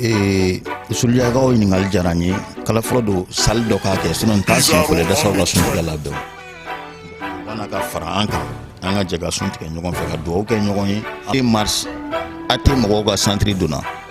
ee sulujakaw ɲininkali diyara n ye kala fɔlɔ don sali dɔ k'a kɛ sinon n t'a siɲɛ fɔlɔ dasaw ka suntigɛ labɛn u ka na ka fara an kan an ka jɛ ka suntigɛ ɲɔgɔn fɛ ka dugawu kɛ ɲɔgɔn ye e mars a tɛ mɔgɔw ka santiri donna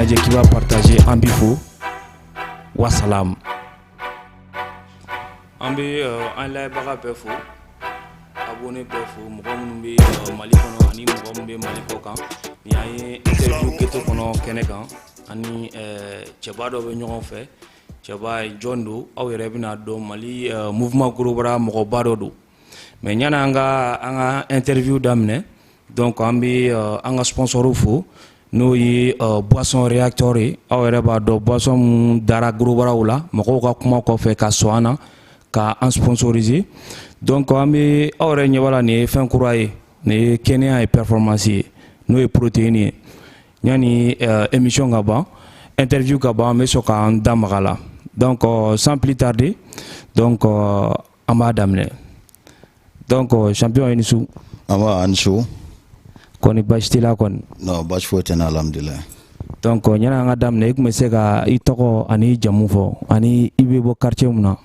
lajɛ k'i b'a partager an b'i fo wasalamu an bɛ euh, an lajɛbaga bɛɛ fo abonné bɛɛ fo mɔgɔ minnu bɛ euh, mali kɔnɔ ani mɔgɔ minnu bɛ mali kɔkan nin y'an ye interview geto kɔnɔ kɛnɛ kan ani euh, cɛba dɔ bɛ ɲɔgɔn fɛ cɛba ye jɔn don aw yɛrɛ bɛn'a dɔn mali uh, mouvement gorobara mɔgɔba dɔ don mais yanni an ka an ka interview daminɛ donc an bɛ uh, an ka sponsor fo n'o ye uh, boisson réacteur ye aw yɛrɛ b'a dɔn boisson min dara gorobaraw la mɔgɔw ka kuma kɔfɛ ka sɔn an na ka an sponsoriser donc an bɛ aw yɛrɛ ɲɛ b'a la nin ye fɛn kura ye nin ye kɛnɛya ye performance ye n'o ye protéine ye Yanni uh, émission ka ban interview ka ban an bɛ sɔn k'an da maga a la donc uh, sans plus tarder donc uh, an b'a daminɛ donc uh, champion i ni su. nba a ni su. kɔni baasi t'i la kɔni. non baasi foyi tɛ n na alhamdulilayi. donc yanni an k'a daminɛ i tun bɛ se ka i tɔgɔ ani i jamu fɔ ani i bɛ bɔ quartier mun na.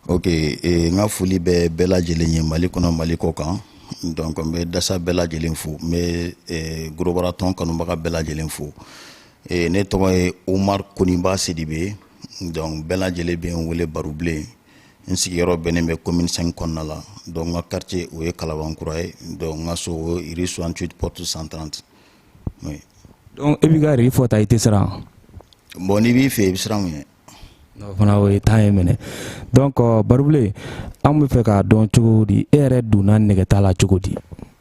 ok eh, n ka foli bɛ bɛɛ lajɛlen ye mali kɔnɔ mali kɔkan. donc n bɛ dasa bɛɛ lajɛlen fo n bɛ eh, gorobara tɔn kanubaga bɛɛ lajɛlen fo eh, ne tɔgɔ ye umar koniba sidibe donc bɛɛ lajɛlen bɛ n wele barubilen n sigiyɔrɔ bɛnnen bɛ commune 5 kɔnɔna la donc n ka quartier o ye kalabankura ye donc n ka so o ye rue 68 porte 130 oui. donc e b'i ka rue fɔ tan i tɛ siran bon n'i b'i fɛ i bɛ siran mun ɲɛ fana o ye tan ye minɛ donc Barubilen an bɛ fɛ k'a dɔn cogo di e yɛrɛ donna nɛgɛta la cogo di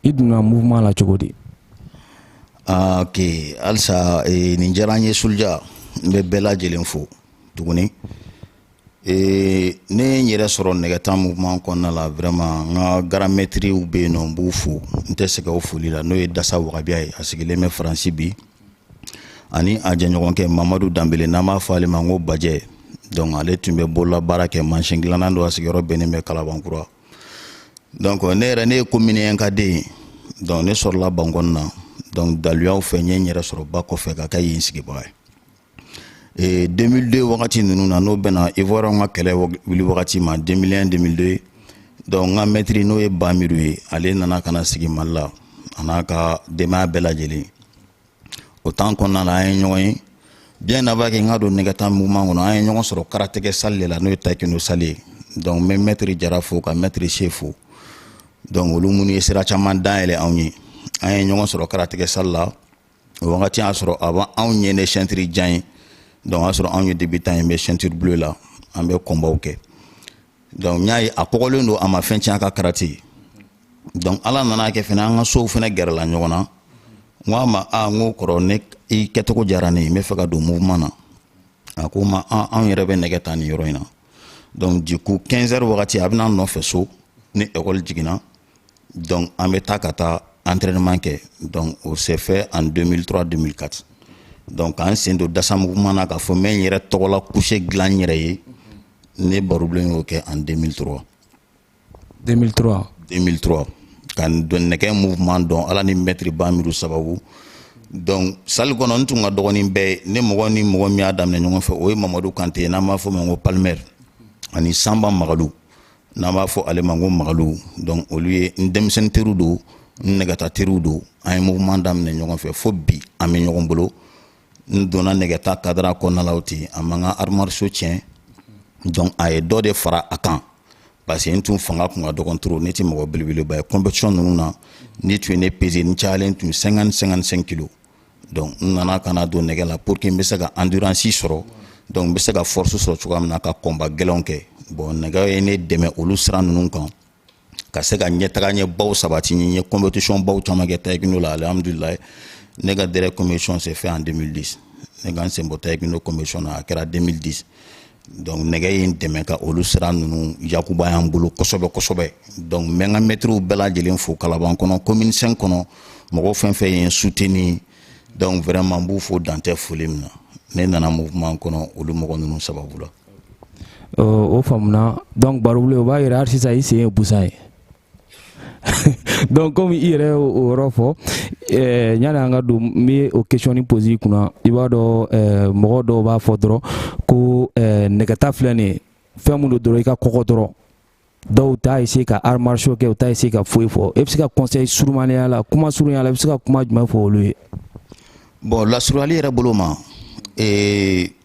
i donna mouvement la cogo di ah, ok halisa eh, nin diyara n ye Suluja n bɛ bɛɛ lajɛlen fo tuguni eh, ne ye n yɛrɛ sɔrɔ nɛgɛta mouvement kɔnɔna la vraiment n ka grand maîtrew bɛ yen nɔ n b'u fo n tɛ sɛgɛn o foli la n'o ye Dasa Wagabiya ye a sigilen bɛ Faransi bi ani a jɛɲɔgɔnkɛ mamadu danbele n'an b'a fɔ ale ma ko bajɛ donc ale tun bɛ bolola baara kɛ mansin dilanna don a sigiyɔrɔ bɛnnen bɛ kalabankura donc ne yɛrɛ ne ye commune 1 ka den ye donc ne sɔrɔla bankɔni na donc daluyaw fɛ n ye n yɛrɛ sɔrɔ ba kɔfɛ ka kɛ yen sigibaga ye e, 2002 wagati ninnu na n'o bɛnna ivoirienw ka kɛlɛ wuli wagati ma 2001 2002 donc n ka mɛtiri n'o ye bamiru ye ale nana ka na sigi mali la a n'a ka denbaya bɛɛ lajɛlen o temps kɔnɔna la an ye ɲɔgɔn ye bien avant que n ka don nɛgɛta mouvement kɔnɔ an ye ɲɔgɔn sɔrɔ karatekɛ sali de la n'o ye taekwondo sali ye donc n bɛ mɛtiri jara fo ka mɛtiri se fo donc olu minnu ye sira caman dayɛlɛ anw ye an ye ɲɔgɔn sɔrɔ karatekɛ sali la o wagati y'a sɔrɔ a b'an anw ɲɛ ni ceinture jan ye donc o y'a sɔrɔ anw ye debutant ye n bɛ ceinture bleu la an bɛ combatw kɛ donc n y'a ye a kɔgɔlen don a ma fɛn tiɲɛ a ka karate donc ala nan'a kɛ fɛnɛ an ka sow fɛnɛ gɛrɛla ɲɔgɔn na n k'a ma a n ko kɔrɔ ne i kɛcogo diyara ne ye n b'a fɛ ka don mouvement na a ko n ma anw yɛrɛ bɛ nɛgɛ ta nin yɔrɔ in na donc du coup 15 heures wagati a bɛ na an nɔfɛ so ni école jiginna donc an bɛ taa ka taa entraînement kɛ donc o s'est fait en 2003 2004 donc k'an sen don dasa mouvement na k'a fɔ n bɛ n yɛrɛ tɔgɔla couché dilan n yɛrɛ ye ne barobilen y'o kɛ en 2003 2003 2003 ka don nɛgɛ mouvement dɔn ala ni mɛtiri bamiru sababu donc sali kɔnɔ n tun ka dɔgɔn ni bɛɛ ye mɔgɔ ni mɔgɔ min y'a daminɛ ɲɔgɔn fɛ o ye mamadu kante ye n'an b'a fɔ a ma ko palmer ani sanba magalu n'an b'a fɔ ale ma ko magalu donc olu ye n denmisɛnnin teriw don n nɛgɛta teriw don an ye mouvement daminɛ ɲɔgɔn fɛ fo bi an bɛ ɲɔgɔn bolo n donna nɛgɛta cadre kɔnɔna la o ten a ma n ka arts martiaux tiɲɛ donc a ye dɔ de fara a kan parce que n tun fanga tun ka dɔgɔn trop ne tɛ mɔgɔ belebeleba ye competition ninnu na n'u tun ye ne peser n cayalen tun 50 55 kilos donc n nana ka na don nɛgɛ la pour que n bɛ se ka endurance sɔrɔ donc n bɛ se ka force sɔrɔ cogoya min na ka combat gɛlɛnw kɛ bon nɛgɛ ye ne dɛmɛ olu sira ninnu kan ka se ka ɲɛtaga ɲɛ baw sabati n ye competition baw caman kɛ taekwondo la alhamdulilayi ne ka dernier competition s'est fait en 2010 ne ka n sen bɔ taekwondo competition na a kɛra 2010 donc nɛgɛ ye n dɛmɛ ka olu sira ninnu yakubaya an bolo kosɛbɛ kosɛbɛ donc n bɛ n ka mɛtiriw bɛɛ lajɛlen fo kalaban kɔnɔ commune 5 kɔnɔ mɔgɔ fɛn fɛn ye n soutenir donc vraiment n b'u fo dan tɛ foli min na ne nana mouvement kɔnɔ olu mɔgɔ ninnu sababu la o faamuna donc barobule o b'a yira hali sisan i sen ye busan ye donc comme i yɛrɛ o yɔrɔ fɔ eh, yani an ka don n bɛ o question ni poser i kunna i b'a dɔn eh, mɔgɔ dɔw b'a fɔ dɔrɔn ko eh, nɛgɛta filɛ nin ye fɛn min don dɔrɔn i ka kɔgɔ dɔrɔn dɔw t'a essayer ka arts martiaux kɛ u t'a essayer ka foyi fɔ e bɛ se ka conseil surumanenya la kuma surunya la i bɛ se ka kuma jumɛn fɔ olu ye bon lasurunyali yɛrɛ bolo ma eh,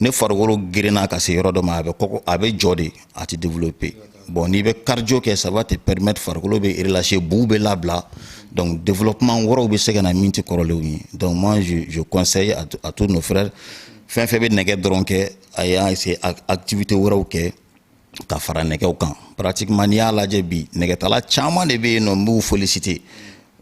ni farikolo girinna ka se yɔrɔ dɔ ma a bɛ a bɛ jɔ de a tɛ développer bon n'i bɛ cardio kɛ ça va te permettre farikolo bɛ relâcher buw bɛ labila donc développement wɛrɛw bɛ se ka na min tɛ kɔrɔlenw ye donc moi je, je conseille à, à tous nos frères fɛn fɛn bɛ nɛgɛ dɔrɔn kɛ a y'a essayer activité wɛrɛw kɛ ka fara nɛgɛw kan pratiquement n'i y'a lajɛ bi nɛgɛtala caman de bɛ yen nɔ n b'u féliciter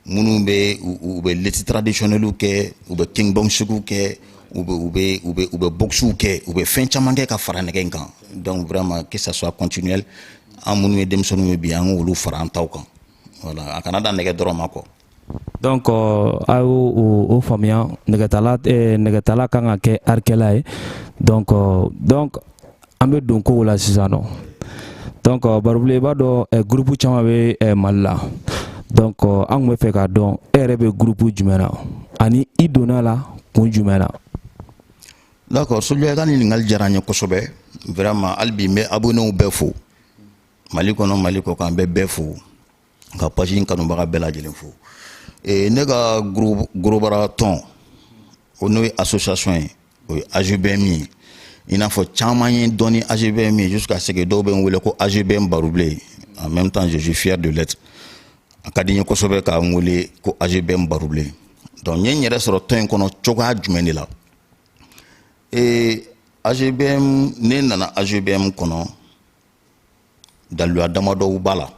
minnu bɛ u bɛ lutte traditionnellew kɛ u bɛ kickboxingw kɛ u bɛ u bɛ u bɛ u bɛ boxew kɛ u bɛ fɛn caman kɛ ka fara nɛgɛ in kan donc vraiment que ça soit continuel an minnu ye denmisɛnninw ye bi an k'olu fara an taw kan voilà a kana dan nɛgɛ dɔrɔn ma kɔ Donc a y'o faamuya nɛgɛtala nɛgɛtala kan ka kɛ arikɛla ye donc donc an bɛ don kow la sisan nɔ donc barobilen i b'a dɔn groupe caman bɛ mali la donc an tun bɛ fɛ k'a dɔn e yɛrɛ bɛ groupe jumɛn na ani i donna la kun jumɛn na d'accord suluja i ka ɲininkali diyara n ye kosɛbɛ vraiment hali bi n bɛ abonnéw bɛɛ fo mali kɔnɔ mali kɔkan n bɛ bɛɛ fo ka page in kanubaga bɛɛ lajɛlen fo e, ne ka gros bras tɔn o n'o ye association ye o ye AGBM ye i n'a fɔ caman ye n dɔn ni AGBM ye jusqu'à ce que dɔw bɛ n wele ko AGBM barobilen en même temps je suis fier de l'être a ka di n ye kosɛbɛ ka n wele ko AGBM barobilen donc n ye n yɛrɛ sɔrɔ tɔn in kɔnɔ cogoya jumɛn de la ee AGBM ne nana AGBM kɔnɔ daluya damadɔw b'a la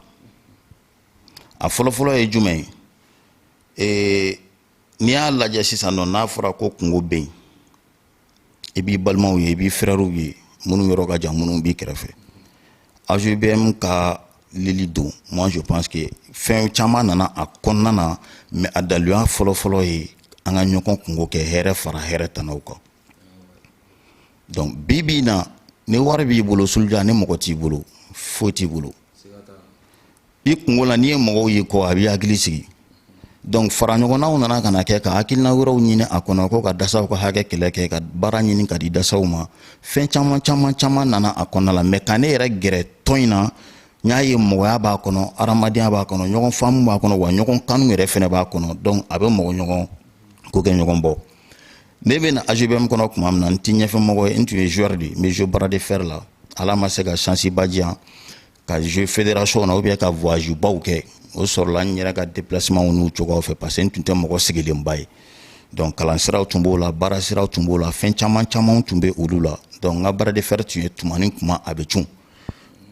a fɔlɔfɔlɔ ye jumɛn ye ee n'i y'a lajɛ sisan nɔ n'a fɔra ko kunko bɛ yen i b'i balimaw ye i b'i frèrew ye minnu yɔrɔ ka jan minnu b'i kɛrɛfɛ AGBM ka lili don moi je pense que fɛn caman nana a kɔnɔna na mais a daluya fɔlɔfɔlɔ ye an ka ɲɔgɔn kunko kɛ hɛrɛ fara hɛrɛtanaw kan donc bi bi in na ni wari b'i bolo suluja ni mɔgɔ t'i bolo foyi t'i bolo i kunko la n'i ye mɔgɔw ye kɔ a b'i hakili sigi donc fara ɲɔgɔnnaw nana ka na kɛ ka hakilina wɛrɛw ɲini a kɔnɔ ko ka dasaw ka hakɛ kɛlɛ kɛ ka baara ɲini ka di dasaw ma fɛn caman caman caman nana a kɔnɔna la mais ka ne yɛrɛ gɛrɛ tɔn in na n y'a ye mɔgɔya b'a kɔnɔ hadamadenya b'a kɔnɔ ɲɔgɔn faamu b'a kɔnɔ wa ɲɔgɔn kanu yɛrɛ fɛnɛ b'a kɔnɔ donc a bɛ mɔgɔ ɲɔgɔn ko kɛ ɲɔgɔn bɔ ne bɛ na AGBM kɔnɔ tuma min na n tɛ ɲɛfɛmɔgɔ ye n tun ye joueur de ye n bɛ jouer bras de fer la ala ma se ka chance ba di yan ka jouer fédération na ou bien ka voyage baw kɛ o sɔrɔla n yɛrɛ ka déplacement n'u cogoyaw fɛ parce que n tun tɛ mɔgɔ sigilenba ye donc kalan siraw tun b'o la baara siraw tun b'o la fɛn caman camanw tun bɛ olu la donc n ka bras de fer tun ye tuma ni tuma a bɛ cun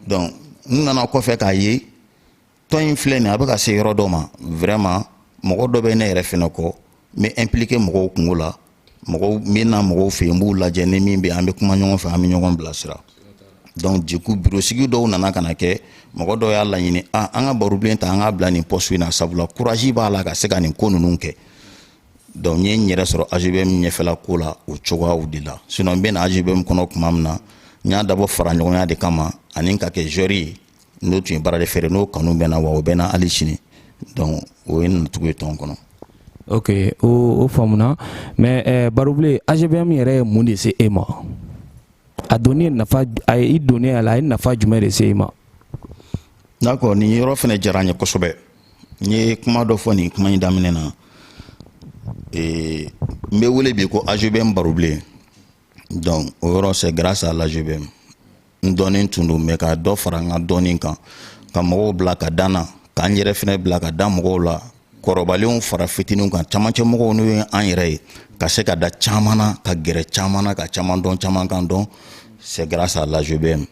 donc n nana kɔfɛ k'a ye tɔn in filɛ nin a bɛ ka se yɔrɔ dɔ ma vraiment mɔgɔ dɔ bɛ ne yɛrɛ fɛnɛ kɔ n bɛ impliqué mɔgɔw kunko la mɔgɔw n bɛ na mɔgɔw fɛ yen n b'u lajɛ ni min bɛ an bɛ kuma ɲɔgɔn fɛ an bɛ ɲɔgɔn bilasira donc du coup bureau sigi dɔw nana ka na kɛ mɔgɔ dɔw y'a laɲini a ah, an ka barobilen ta an k'a bila nin poste in na sabula courage b'a la ka se ka nin ko ninnu kɛ donc n ye n yɛrɛ sɔrɔ AGBM ɲɛfɛla ko la o cogoyaw de la sinon n bɛ na AGBM kɔnɔ tuma min na n y'a dabɔ fara ɲɔgɔnya de kama ani ka kɛ joueur ye n'o tun ye bras de fer n'o kanu bɛ n na wa o bɛ n na hali sini donc o ye n nacogo ye tɔn kɔnɔ ok o o faamuna mais eh, barobilen AGBM yɛrɛ ye mun de se e ma a donni nafa a ye i donni a la a ye nafa jumɛn de se e ma d'accord nin yɔrɔ fɛnɛ diyara n ye kosɛbɛ n ye kuma dɔ fɔ nin kuma in daminɛ na n bɛ wele bi ko AGBM barobilen donc o yɔrɔ c'est grâce à l'AGBM n dɔnnen tun don mais ka dɔ fara n ka dɔnni kan ka mɔgɔw bila ka da n na k'an yɛrɛ fɛnɛ bila ka da mɔgɔw la kɔrɔbalenw fara fitininw kan camancɛ mɔgɔw n'o ye an yɛrɛ ye ka se ka da caman na ka gɛrɛ caman na ka caman dɔn caman kan dɔn c'est grâce à l'AGBM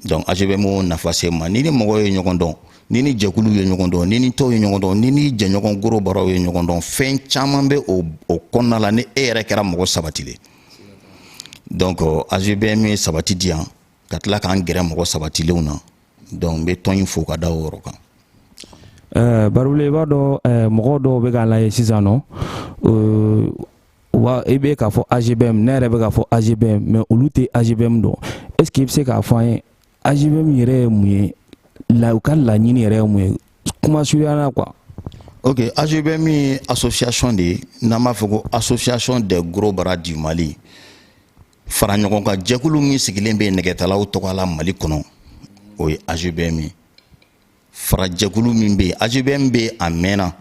donc AGBM y'o nafa se n ma ni ni mɔgɔ ye ɲɔgɔn dɔn ni ni jɛkulu ye ɲɔgɔn dɔn ni ni tɔnw ye ɲɔgɔn dɔn ni ni jɛɲɔgɔn gros bras ye ɲɔgɔn dɔn fɛn caman bɛ o o kɔnɔna la ni e yɛrɛ kɛra mɔgɔ sabatilen donc AGBM ye sabati di yan ka tila k'an gɛrɛ mɔgɔ sabatilenw na donc n bɛ tɔn in fo ka da o yɔrɔ kan barobilen i b'a dɔn mɔgɔ dɔw bɛ k'an lajɛ sisan nɔ wa i bɛ k'a fɔ AGBM ne yɛrɛ bɛ k'a fɔ AGBM mais olu tɛ AGBM dɔn est ce que i bɛ se k'a fɔ an ye AGBM yɛrɛ ye mun ye u ka laɲini yɛrɛ ye mun ye kuma surunya na quoi. ok AGBM ye association de ye n'an b'a fɔ ko association des gros bras du Mali fara ɲɔgɔn kan jɛkulu min sigilen bɛ nɛgɛtalaw tɔgɔ la Mali kɔnɔ o ye AGBM ye. farajɛkulu min bɛ yen AGBM bɛ a mɛnna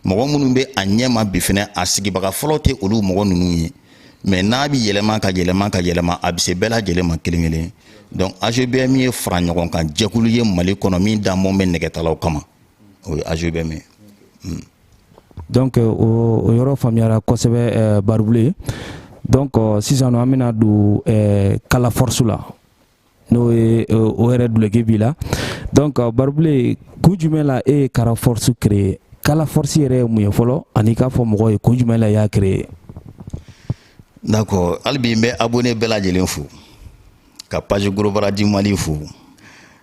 mɔgɔ minnu bɛ a ɲɛma bi fɛnɛ a sigibaga fɔlɔ tɛ olu mɔgɔ ninnu ye mais n'a bɛ yɛlɛma ka yɛlɛma ka yɛlɛma a bɛ se bɛɛ lajɛlen ma kelen kelen donc AGBM ye fara ɲɔgɔn kan jɛkulu ye mali kɔnɔ min dabɔ bɛ nɛgɛtalaw kama o ye AGBM ye hmm. donc euh, o yɔrɔ faamuyara kosɛbɛ euh, barobilen donc euh, sisan an bɛna don kala force la n'o ye eh, o yɛrɛ duloki b'i la donc barobilen kun jumɛn la e ye kala force créer kala force yɛrɛ ye mun ye fɔlɔ ani k'a fɔ mɔgɔw ye kun jumɛn la i y'a créer d'accord hali bi n bɛ abonné bɛɛ lajɛlen fo ka page gros bras du mali fo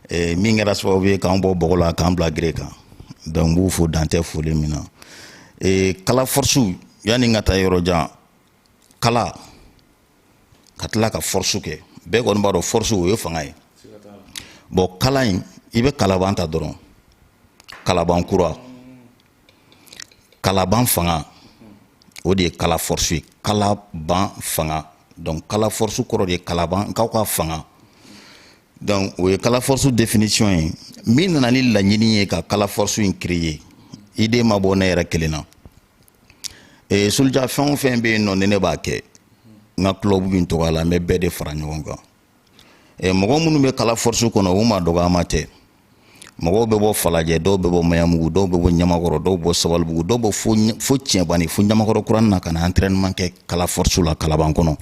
eh, min kɛra sababu ye k'an bɔ bɔgɔ la k'an bila gere kan donc n b'u fo dan tɛ foli min na eh, kala force yanni n ka taa yɔrɔ jan kala ka tila ka force kɛ bɛɛ kɔni b'a dɔn force o ye fanga ye bon kala in i bɛ kalaban ta dɔrɔn kalaban kura kalaban fanga o de ye kala force ye kalaban fanga donc kala force kɔrɔ de ye kalabankaw ka fanga donc o ye kala force définition ye min nana ni laɲini ye ka kala force in créer idée ma bɔ ne yɛrɛ kelen na soldier fɛn o fɛn bɛ yen nɔ ni ne b'a kɛ n ka club in tɔgɔ la n bɛ bɛɛ de fara ɲɔgɔn kan mɔgɔ minnu bɛ kala force kɔnɔ u ma dɔgɔyama tɛ mɔgɔw bɛ bɔ falajɛ dɔw bɛ bɔ maɲanbugu dɔw bɛ bɔ ɲamakɔrɔ dɔw bɛ bɔ sabalibugu dɔw bɛ fo cɛbani fo ɲamakɔrɔ kuranin na ka na entraînement kɛ kala force la kalaban kɔnɔ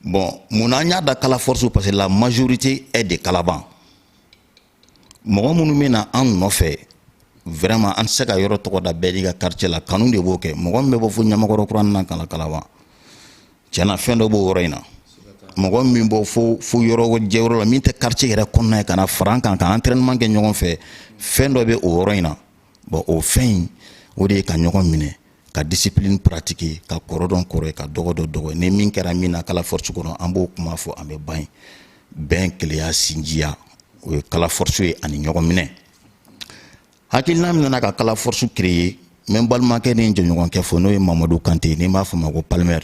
bon mun na an y'a da kala force parce que la majorité est de kalaban mɔgɔ minnu bɛ na an nɔfɛ vraiment an tɛ se ka yɔrɔ tɔgɔ da bɛɛ n'i ka quartier la kanu de b'o kɛ mɔgɔ min bɛ bɔ fo ɲamakɔrɔ kuranin na ka na kalaban tiɲɛ na fɛn dɔ b'o yɔrɔ in na mɔgɔ min bɔ fo fo yɔrɔ jɛ yɔrɔ la min tɛ quartier yɛrɛ kɔnɔna ye ka na fara an kan ka entraînement kɛ ɲɔgɔn fɛ fɛn dɔ bɛ o yɔrɔ in na bon o fɛn in o de ye ka ɲɔgɔn minɛ ka discipline pratiquer ka kɔrɔ dɔn kɔrɔ ye ka dɔgɔ dɔn dɔgɔ ye ni min kɛra min na kala force kɔnɔ an b'o kuma fɔ an bɛ ban yen bɛn kelenya sinjiya o ye kala force ye ani ɲɔgɔn minɛ hakilina min nana ka kala force créer n bɛ n balimakɛ ni n jɛɲɔgɔnkɛ fo n'o ye mamadu kante ni n b'a fɔ a ma ko palmer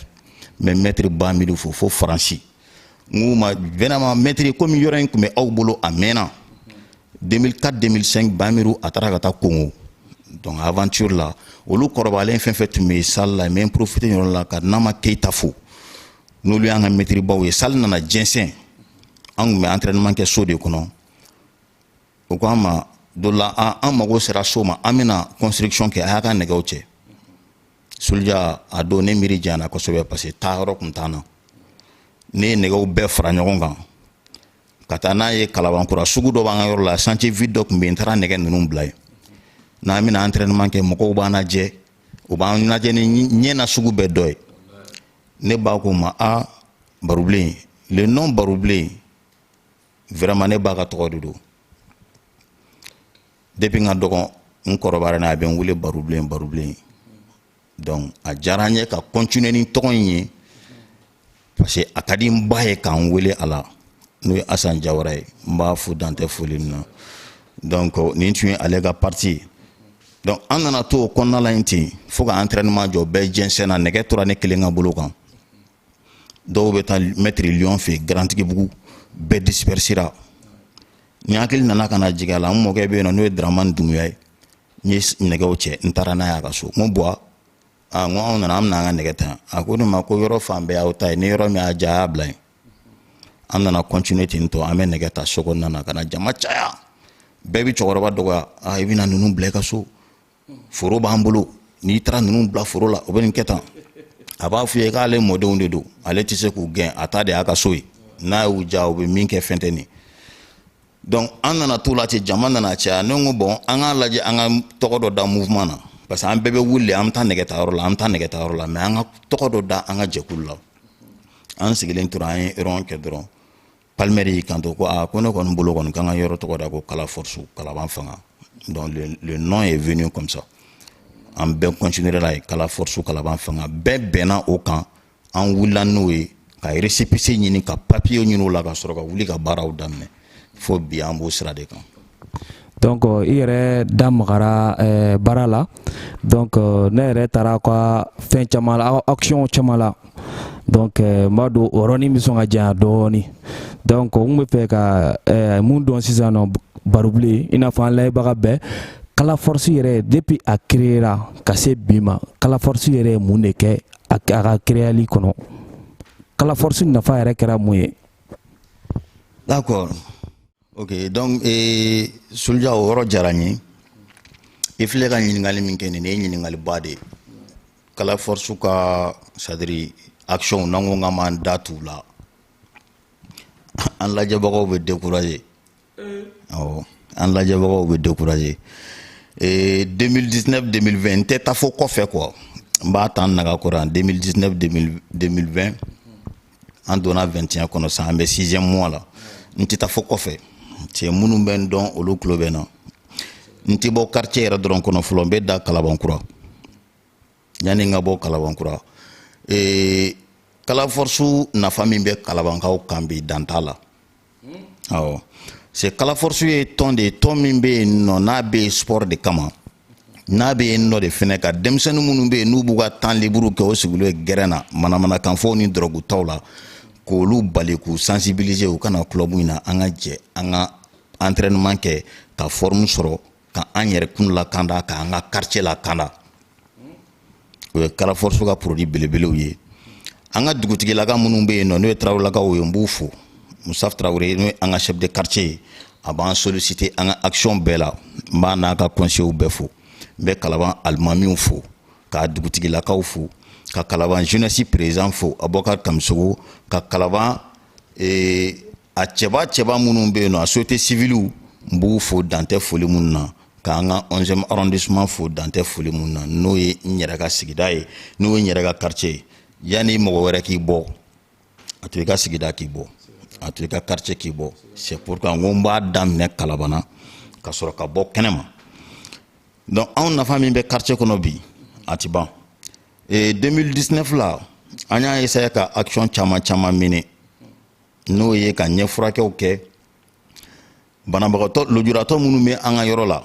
n bɛ mɛtiri bamidu fo fo faransi n k'o ma vraiment mɛtiri komi yɔrɔ in tun bɛ aw bolo a mɛnna 2004 2005 bamiru a taara ka taa kongo donc aventure la olu kɔrɔbalen fɛn fɛn tun bɛ salle la n bɛ profiter yɔrɔ la ka nama keyita fo n'olu y'an ka mɛtiribaw ye salle nana jɛnsɛn an tun bɛ entraînement kɛ so de kɔnɔ u ko an ma dɔ la an mago sera so ma an bɛna construction kɛ a y'a ka nɛgɛw cɛ Soldier a don ne miiri janyana kosɛbɛ parce que taa yɔrɔ tun t'an na ne ye nɛgɛw bɛɛ fara ɲɔgɔn kan ka taa n'a ye kalaban kura sugu dɔ b'an ka yɔrɔ la chantier vide dɔ tun bɛ yen n taara nɛgɛ ninnu bila yen n'an bɛna entraînement kɛ mɔgɔw b'an lajɛ u b'an lajɛ ni ɲɛ na sugu bɛɛ dɔ ye ne ba ko n ma a barobilen le nom barobilen vraiment ne ba ka tɔgɔ de don depuis n ka dɔgɔ n kɔrɔbayara n'a ye a bɛ n wele barubilen barubilen donc a diyara n ye ka continuer ni tɔgɔ in ye parce que a ka di n ba ye ka n wele a la n'o ye asan jawara ye n b'a fo dantɛ foli min na donc nin tun ye ale ka parti ye donc an nana to o kɔnɔna la yen ten fo ka entraînement jɔ bɛɛ jɛnsɛnna nɛgɛ tora ne kelen ka bolo kan dɔw bɛ taa maître lion fɛ yen garantigibugu bɛɛ dispersera n hakili nana ka na jigin a la n mɔkɛ bɛ yen nɔ n'o ye daramani dunbuya ye n ye nɛgɛw cɛ n taara n'a ye a ka so n ko buwa a n ko anw nana an bɛna an ka nɛgɛ ta a ko ne ma ko yɔrɔ fan bɛɛ y'aw ta ye ni yɔrɔ min y'a diya a y'a bila yen an nana continuer ten tɔ an bɛ nɛgɛ ta so kɔnɔna na ka na jama caya bɛɛ bɛ cɛkɔrɔba dɔgɔya a i bɛna ninnu bila i ka so foro b'an bolo n'i taara ninnu bila foro la o bɛ nin kɛ tan a b'a f'i ye k'ale mɔdenw de don ale tɛ se k'u gɛn a ta de y'a ka so ye n'a y'u diya u bɛ min kɛ fɛn tɛ nin donc an nana t'o la ten jama nana caya ne ko bon an k'a lajɛ an ka tɔgɔ dɔ da mouvement na parce que an bɛɛ bɛ wuli an bɛ taa nɛgɛta yɔrɔ la an bɛ taa nɛgɛta yɔrɔ la mais an ka tɔgɔ dɔ da an ka jɛkulu la an sigilen tora an ye rond kɛ dɔrɔn palmer y'i kanto ko aa ko ne kɔni bolo kɔni k'an ka yɔrɔ tɔgɔ da ko kala force kalaban fanga donc le, le nom est venu comme ça an bɛɛ continuera la ye kala force kalaban fanga bɛɛ bɛnna o kan an wulila n'o ye ka récépissé ɲini ka papier ɲini o la ka sɔrɔ ka wuli ka baaraw daminɛ fo bi an b'o sira de kan donc euh, i yɛrɛ da magara euh, baara la donc euh, ne yɛrɛ taara ka fɛn caman la action caman la donc n b'a dɔn o yɔrɔnin bɛ sɔn ka janya dɔɔnin donc n kun b'a fɛ ka mun dɔn sisan nɔ barubilen i n'a fɔ an layɛbaga bɛɛ kala force yɛrɛ depuis a créera ka se bi ma kala force yɛrɛ ye mun de kɛ a ka créali kɔnɔ kala force nafa yɛrɛ kɛra mun ye d'accord ok donc ee soluja o yɔrɔ diyara n ye i filɛ ka ɲininkali min kɛ nin ye ɲininkaliba de ye kala force ka c'est-à-dire actionw n'an ko k'an b'an da t'u la an lajɛbagaw bɛ décourager awɔ an lajɛbagaw bɛ décourager ee 2019 2020 n tɛ taa fo kɔfɛ quoi n b'a ta n naga kɔrɔ yan 2019 2020 an donna vingt et un kɔnɔ san an bɛ sixième mois la n tɛ taa fo kɔfɛ cɛ minnu bɛ n dɔn olu tulo bɛ n na n tɛ bɔ quartier yɛrɛ dɔrɔn kɔnɔ fɔlɔ n bɛ dan kalabankura yanni n ka bɔ kalabankura ee kala force nafa min bɛ kalabankaw kan bi dan t'a la awɔ c'est kala force ye tɔn de ye tɔn min bɛ yen nɔ n'a bɛ yen sport de kama n'a bɛ yen nɔ de fɛnɛ ka denmisɛnnin minnu bɛ yen n'u b'u ka temps libre kɛ o sigilen ye gɛrɛn na manamanakanfɔw ni dɔrɔgutaw la k'olu bali k'u sensibiliser u ka na club in na an ka jɛ an ka entraînement kɛ ka forme sɔrɔ ka an yɛrɛ kun lakanda ka an ka quartier lakanda o ye kala force ka produit belebelew ye an ka dugutigilaka minnu bɛ yen nɔ n'o ye tarawelelakaw ye n b'u fo musaf tarawele n'o ye an ka chef de quartier ye a b'an solliciter an ka action bɛɛ la n b'a n'a ka conseils bɛɛ fo n bɛ kalaban alimamiw fo ka dugutigilakaw fo ka kalaban jeunesse président fo abubakar kamisogo ka kalaban ee a cɛba cɛba minnu bɛ yen nɔ a société civile n b'u fo dan tɛ foli minnu na k'an ka 11e arrondissement fo dan tɛ foli minnu na n'o ye n yɛrɛ ka sigida ye n'o ye n yɛrɛ ka quartier ye yanni mɔgɔ wɛrɛ k'i bɔ a to i ka sigida k'i bɔ a to i ka quartier k'i bɔ c'est pourquoi n ko n b'a daminɛ kalaban na ka sɔrɔ ka bɔ kɛnɛma donc anw nafa min bɛ quartier kɔnɔ bi a tɛ ban 2019 la an y'a essayé ka action caman caman mener n'o ye ka ɲɛfurakɛw kɛ banabagatɔ lujuratɔ minnu bɛ an ka yɔrɔ la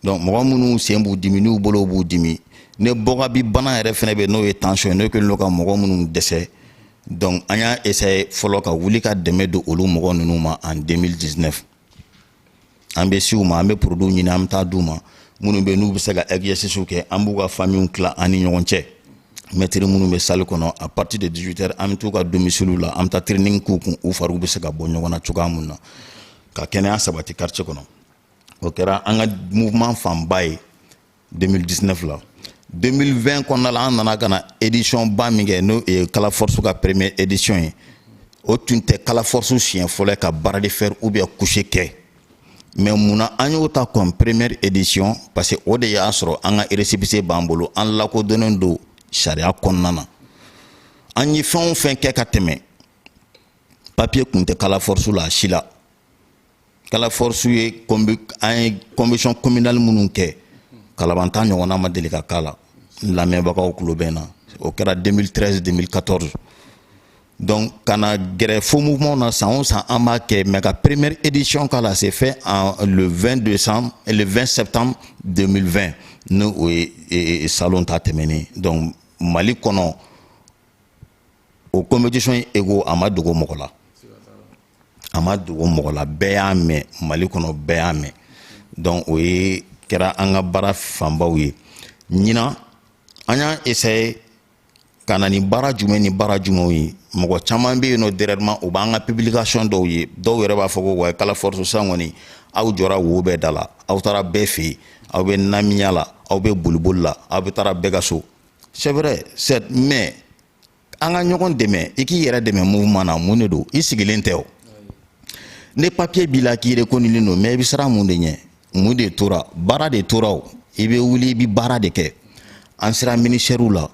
donc mɔgɔ minnu sen b'u dimi n'u bolow b'u dimi ne bɔga bi bana yɛrɛ fɛnɛ bɛ n'o ye tension ye n'o kɛlen don ka mɔgɔ minnu dɛsɛ donc an y'a essayer fɔlɔ ka wuli ka dɛmɛ don olu mɔgɔ ninnu ma en 2019 an bɛ se u ma an bɛ produits ɲini an bɛ taa d'u ma minnu bɛ n'u bɛ se ka exercices kɛ an b'u ka famiw tila an ni ɲɔgɔn cɛ mɛtiri minnu bɛ salle kɔnɔ à partir de 18 heures an bɛ t'u ka domiciles la an bɛ taa training k'u kun u fariw bɛ se ka bɔ ɲɔgɔn na cogoya min na ka kɛnɛya sabati quartier kɔnɔ o kɛra an ka mouvement fanba ye 2019 la 2020 kɔnɔna la an nana ka na édition ba min kɛ n'o ye kala force ka première édition ye o tun tɛ kala force siɲɛ fɔlɔ ka bras de fer ou bien couché kɛ mais munna an y'o ta comme première édition parce que o de y'a sɔrɔ an ka récépissé b'an bolo an lakodɔnnen don sariya kɔnɔna na an ye fɛn o fɛn kɛ ka tɛmɛ papier tun tɛ kala force la a si la kala force ye an ye compétition communale minnu kɛ kalaban ta ɲɔgɔnna ma deli ka k'a la n lamɛnbagaw tulo bɛ n na o kɛra 2013 2014 donc ka na gɛrɛ fo mouvement na san o san an b'a kɛ mais ka première édition k'a la c'est fait en le 20 décembre et le 20 septembre 2020 ni o ye e, e, salon ta tɛmɛnen donc mali kɔnɔ o compétition in écho a ma dogo mɔgɔ la a ma dogo mɔgɔ la bɛɛ y'a mɛn mali kɔnɔ bɛɛ y'a mɛn donc o ye kɛra an ka baara fanbaw ye ɲinan an y'a essayer ka na ni baara jumɛn ni baara jumɛnw ye mɔgɔ caman bɛ yen nɔ dernièrement o b'an ka publication dɔw ye dɔw yɛrɛ b'a fɔ ko wa kala force san kɔni aw jɔra wo bɛɛ da la aw taara bɛɛ fɛ yen aw bɛ namiya la aw bɛ boliboli la aw bɛ taara bɛɛ ka so c'est vrai c'est mais an ka ɲɔgɔn dɛmɛ i k'i yɛrɛ dɛmɛ mouvement na mun de don i sigilen tɛ o ni papiye b'i la k'i rekonilen don mɛ i bɛ siran mun de ɲɛ mun de tora baara de tora o i bɛ wuli i bɛ baara de kɛ an sera minisitɛriw la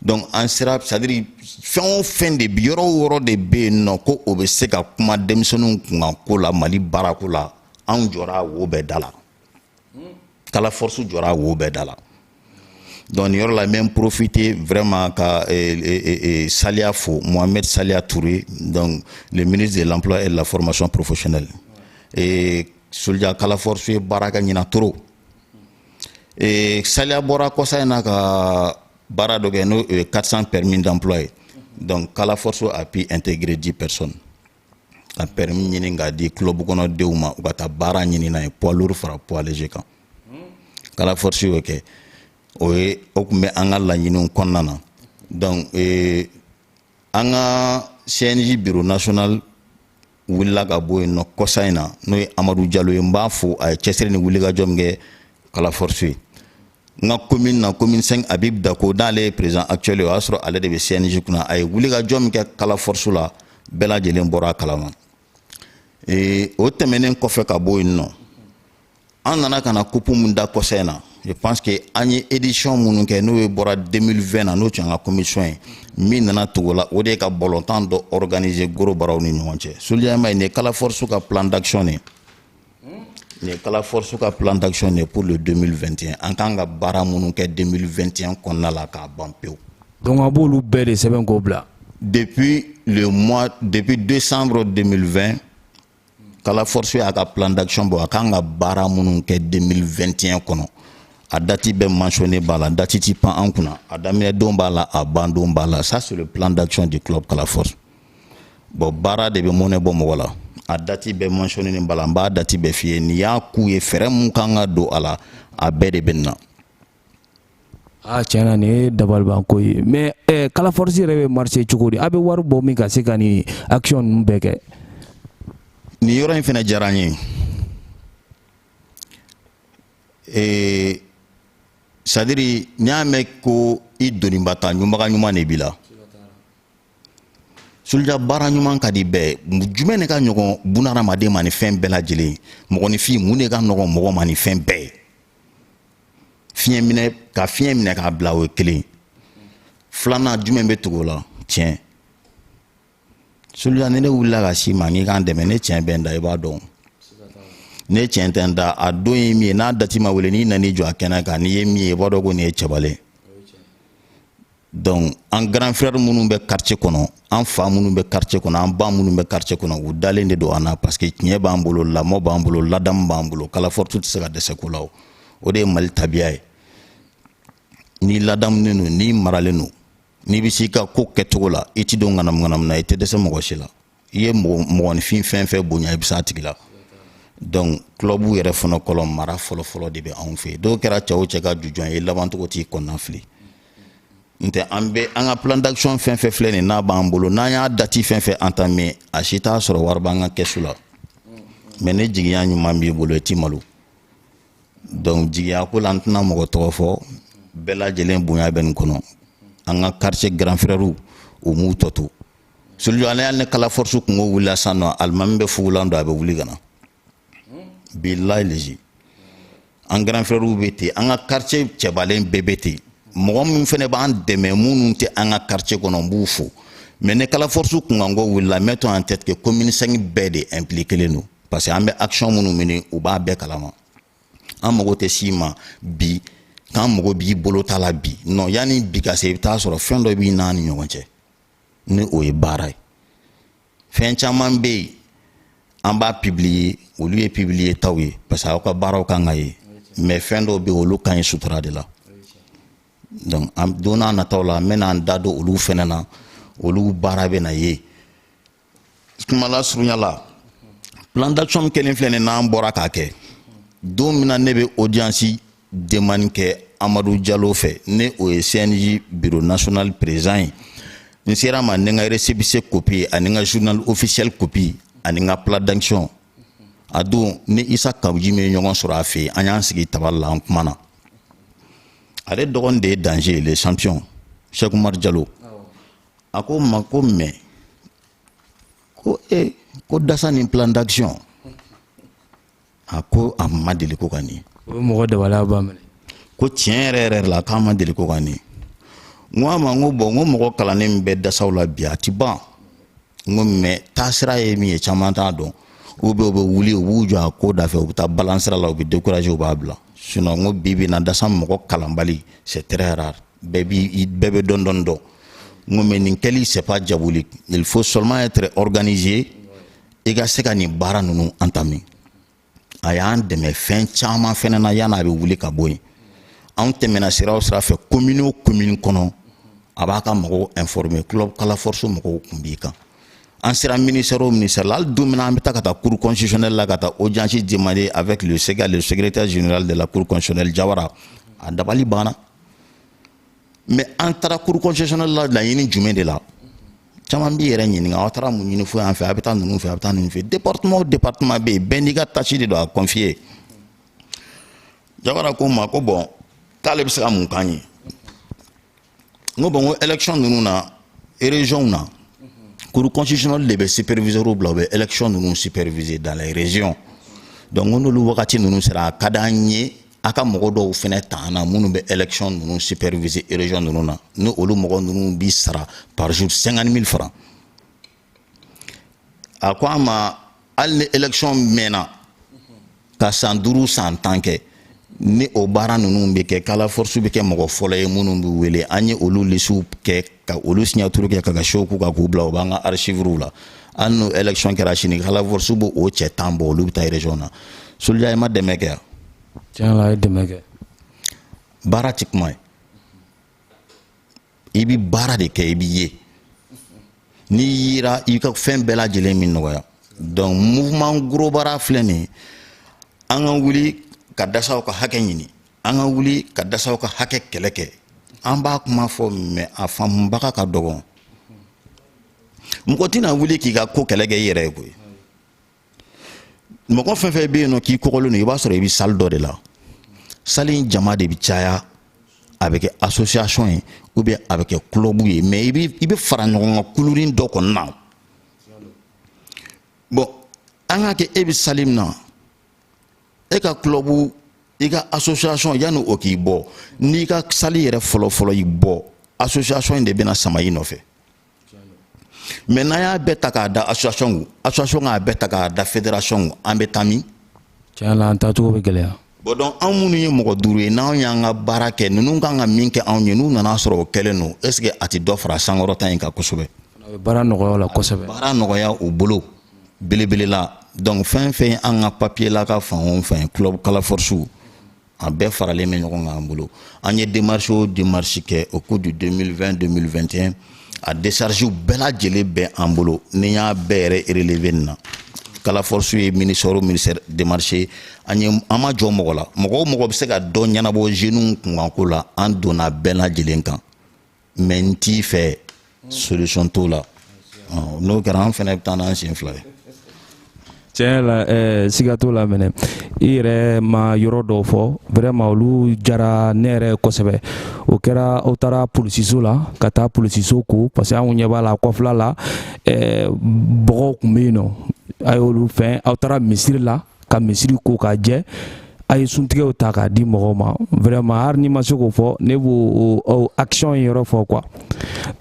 donc an sera sadiri fɛn o fɛn de bi yɔrɔ o yɔrɔ de bɛ yen nɔ ko o bɛ se ka kuma denmisɛnninw kunkan ko la mali baarako la anw jɔra wo bɛɛ da la kala force jɔra wo bɛɛ da la donc nin yɔrɔ la n bɛ n profite vraiment ka eh, eh, eh, eh saliya fo mohamed saliya toure donc le ministre de l'emploi et de la formation professionnelle eh, suluja kala force ye baara kɛ ɲinan trop eh, saliya bɔra kɔsa in na ka baara dɔ kɛ n'o 400 permis d'emploi ye donc kala force a pu intégrer 10 personnes ka pɛrɛmi ɲini k'a di kulɔbu kɔnɔdenw ma u ka taa baara ɲini n'a ye poids lourd fara poids léger kan kala force y'o kɛ o ye o tun bɛ an ka laɲiniw kɔnɔna na donc ee an ka CNJ bureau national wulila ka bɔ yen nɔ kɔsa in na n'o ye Amadu Jalo ye n b'a fo a ye cɛsiri ni wulikajɔ min kɛ kala force ye n ka komin na komin 5 habib dako n'ale ye perezan akitiyɛli ye o y'a sɔrɔ ale de bɛ cnj kunna a ye wulikajɔ min kɛ kala force la bɛɛ lajɛlen bɔra a kalama ee o tɛmɛnen kɔfɛ ka bɔ yen nɔ an nana ka na kupu min da kɔsa in na je pense que an ye édition minnu kɛ n'o ye bɔra 2020 na n'o tun y'an ka commission ye min nana tugu la o de ye ka balɔntan dɔ organiser gorobaraw ni ɲɔgɔn cɛ suluja vraiment nin ye kala force ka plan d'action de ye Nin ye kala force ka plan d'action de ye pour le 2021 an kan ka baara minnu kɛ 2021 kɔnɔna la k'a ban pewu. Donc a b'olu bɛɛ de sɛbɛn k'o bila. Depuis le mois depuis décembre 2020 kala force y'a ka plan d'action bɔ a kan ka baara minnu kɛ 2021 kɔnɔ a dati bɛɛ mentionné b'a la dati ti pan an kunna a daminɛ don b'a la a ban don b'a la ça c'est le plan d'action du club kala force. bɔn baara de bɛ mɔnɛ bɔ mɔgɔ la a dati bɛɛ mansiyɔnenen b'a la n b'a dati bɛɛ f'i ye n'i y'a k'u ye fɛɛrɛ mun kan ka don a la a bɛɛ de bɛ na a tiɲɛna nin ye dabalibanko ye mɛ eh, kala force yɛrɛ bɛ marché cogo di a bɛ wari bɔ min ka se ka nin action ninnu bɛɛ kɛ nin yɔrɔ in fana diyara n ye eh, sadiri n'i y'a mɛn ko i doniba ta ɲunbaga ɲuman de b'i la suluja baara ɲuman ka di bɛɛ jumɛn de ka nɔgɔn bunahadamaden ma ni fɛn bɛɛ lajɛlen mɔgɔninfin mun de ka nɔgɔn mɔgɔ ma ni fɛn bɛɛ ye fiɲɛ minɛ ka fiɲɛ minɛ k'a bila o ye kelen filanan jumɛn bɛ tugu o la tiɲɛ suluja ni ne wulila ka s'i ma n'i k'an dɛmɛ ne tiɲɛ bɛ n da i b'a dɔn ne tiɲɛ tɛ n da a don ye min ye n'a dati ma wele n'i nan'i jɔ a kɛnɛ kan n'i ye min ye i b'a dɔn ko nin ye cɛbalen donc an grand frère minnu bɛ quartier kɔnɔ an fa minnu bɛ quartier kɔnɔ an ba minnu bɛ quartier kɔnɔ u dalen de don an na parce que tiɲɛ b'an bolo lamɔ b'an bolo ladamu b'an bolo kala force tɛ se ka dɛsɛ ko la o o de ye mali tabiya ye n'i ladamunen don n'i maralen don n'i bɛ s'i ka ko kɛcogo la i tɛ don ŋanamuŋanamu na i tɛ dɛsɛ mɔgɔ si la i ye mɔgɔninfin fɛn fɛn bonya i bɛ s'a tigi la donc club yɛrɛ fana kɔnɔ mara fɔlɔfɔlɔ de bɛ anw fɛ yen dɔw kɛra cɛ o cɛ ka jujɔn ye labancogo t'i kɔnɔna fili n tɛ an bɛ an ka plan d'action fɛn fɛn filɛ nin n'a b'an bolo n'an y'a dati fɛn fɛn entamé a si t'a sɔrɔ wari b'an ka kɛsu la mais ni jigiya ɲuman b'i bolo i ti malo donc jigiya ko la n tɛna mɔgɔ tɔgɔ fɔ bɛɛ lajɛlen bonya bɛ nin kɔnɔ an ka quartier grand frères u m'u tɔ to soluju ale y'a ni kala force kunko wulila san nɔ alimami bɛ fugulan don a bɛ wuli ka na bilayi lezi an grand frère bɛ ten an ka quartier cɛbalen bɛɛ bɛ ten mɔgɔ min fana b'an dɛmɛ minnu tɛ an ka quartier kɔnɔ n b'u fo mais ni kala force kunkanko wulila mettons en tête que commune 5 bɛɛ de impliqué len don parce que an bɛ action minnu mener u b'a bɛɛ kalama an mago tɛ s'i ma bi k'an mago b'i bolo ta la bi non yanni bi ka se i bɛ taa sɔrɔ fɛn dɔ b'i n'an ni ɲɔgɔn cɛ ni o ye baara ye fɛn caman bɛ yen an b'a publier olu ye publier taw ye parce que aw ka baaraw kan ka ye mais fɛn dɔw bɛ yen olu ka ɲi sutura de la donc an don n'a nataw la n bɛna n da don olu fɛnɛ na olu baara bɛna ye kuma lasurunya la plan d'action kelen filɛ nin n'an bɔra k'a kɛ don min na ne bɛ audience demande kɛ amadu jalo fɛ n'o ye cnj bureau national président ye n ser'a ma ni n ka récépissé copie ani n ka journal officiel copie ani n ka plan d'action a don ni isa kabuji min ye ɲɔgɔn sɔrɔ a fɛ yen an y'an sigi tabali la an kumana ale dɔgɔnin de ye danger ye le champion sɛkumari jalo a ko n ma ko mais ko e ko dasa ni plan d'action a ko a ma deli ko ka nin o ye mɔgɔ dabala b'a minɛ ko tiɲɛ yɛrɛ yɛrɛ la k'a ma deli ko ka nin n ko a ma n ko bon n ko mɔgɔ kalannen min bɛ dasaw la bi a ti ban n ko mais taasira ye min ye caman t'a dɔn u bɛ u bɛ wuli u b'u jɔ a ko da fɛ u bɛ taa balan sira la u bɛ décourager u b'a bila sinon n ko bi bi na dasa mɔgɔ kalanbali c'est très rare bɛɛ bi bɛɛ bɛ dɔɔnin dɔɔnin dɔn n ko mais nin kɛli c'est pas diable il faut seulement être organisé i ka se ka nin baara ninnu entamer a y'an dɛmɛ fɛn caman fɛnɛ na yan'a bɛ wuli ka bɔ yen anw tɛmɛna sira o sira fɛ commune o commune kɔnɔ a b'a ka mɔgɔw informer club kala force mɔgɔw tun b'i kan an sera ministère o ministère la hali don min na an bɛ taa ka taa cour constitutionnelle la ka taa audience demander avec le SEGAL le secrétaire général de la cour constitutionnelle Jawara a dabali banna mais an taara cour constitutionnelle la laɲini jumɛn de la caman b'i yɛrɛ ɲininka aw taara mun ɲini fo yan fɛ a bɛ taa ninnu fɛ a bɛ taa ninnu fɛ département o département bɛ yen bɛɛ n'i ka tâche de don a confier Jawara ko n ma ko bon k'ale bɛ se ka mun k'an ye n ko bon ko élection ninnu na régionw na cour constitutionnelle de bɛ superviseurw bila u bɛ élection ninnu superviser dans les régions donc n ko n'olu wagati ninnu sera a ka d'an ye a ka mɔgɔ dɔw fɛnɛ ta an na minnu bɛ élection ninnu superviser région ninnu na ni olu mɔgɔ ninnu bi sara par jour 50 000 francs a ko an ma hali ni élection mɛnna ka san duuru san tan kɛ ni o baara ninnu bɛ kɛ kala force bɛ kɛ mɔgɔ fɔlɔ ye minnu bɛ wele an ye olu lisiw kɛ ka olu signature kɛ ka cachet k'u kan k'u bila u b'an ka archives la hali n'o élection kɛra sini kala force b'o o cɛ tan bɔ olu bɛ taa région na soldier ye maa dɛmɛ kɛ yan tiɲɛ la a ye dɛmɛ kɛ baara tɛ kuma ye i bi baara de kɛ i bi ye n'i yera i ka fɛn bɛɛ lajɛlen bi nɔgɔya donc mouvement gros bras filɛ nin an ka wuli ka dasaw ka hakɛ ɲini an ka wuli ka dasaw ka hakɛ kɛlɛ kɛ an b'a kuma fɔ mais a faamubaga ka dɔgɔn mɔgɔ tɛna wuli k'i ka ko kɛlɛ kɛ i yɛrɛ ye koyi mɔgɔ fɛn fɛn bɛ yen nɔ k'i kɔgɔlen don i b'a sɔrɔ i bɛ salle dɔ de la salle in jama de bɛ caya a bɛ kɛ association ye ou bien a bɛ kɛ club ye mais i bɛ i bɛ fara ɲɔgɔn kan kulunin dɔ kɔni na bon an k'a kɛ e bɛ salle min na e ka club i ka association yanni o k'i bɔ n'i ka salle yɛrɛ fɔlɔfɔlɔ y'i bɔ association in de bɛna sama i nɔfɛ mais n'an y'a bɛɛ ta k'a da association kun association k'a bɛɛ ta k'a da fédération kun an bɛ taa min tiɲɛ la an taacogo bɛ gɛlɛya bon donc anw minnu ye mɔgɔ duuru ye n'anw y'an ka baara kɛ ninnu kan ka min kɛ anw ye n'u nana sɔrɔ o kɛlen don est ce que a tɛ dɔ fara sankɔrɔta in kan kosɛbɛ baara nɔgɔya la kosɛbɛ baara nɔgɔya u bolo belebele la donc fɛn fɛn an ka papier la ka fan o fan club kala force a bɛɛ faralen bɛ ɲɔgɔn kan an bolo an ye démarche o démarche kɛ au cours du 2020 2021 a décharge bɛɛ lajɛlen bɛ an bolo ne y'a bɛɛ yɛrɛ relever nin na kala force ye ministère o ministère démarcher an ye an ma jɔ mɔgɔ la mɔgɔ o mɔgɔ bɛ se ka dɔ ɲɛnabɔ jeunes kunkanko la an donna bɛɛ lajɛlen kan mais n t'i fɛ solution t'o la n'o kɛra an fana bɛ taa n'an sen fila ye tiɲɛ la eh, siga t'o la mɛnɛ i yɛrɛ ma yɔrɔ dɔw fɔ vraiment olu diyara ne yɛrɛ kosɛbɛ o kɛra aw taara polisiso la ka taa polisiso ko parce que anw ɲɛ b'a la kɔfɛla la eh, bɔgɔw kun bɛ yen nɔ a y'olu fɛn aw taara misiri la ka misiri ko k'a jɛ a ye suntigɛw ta k'a di mɔgɔw ma vraiment hali n'i ma se k'o fɔ ne b'o o action yɔrɔ fɔ quoi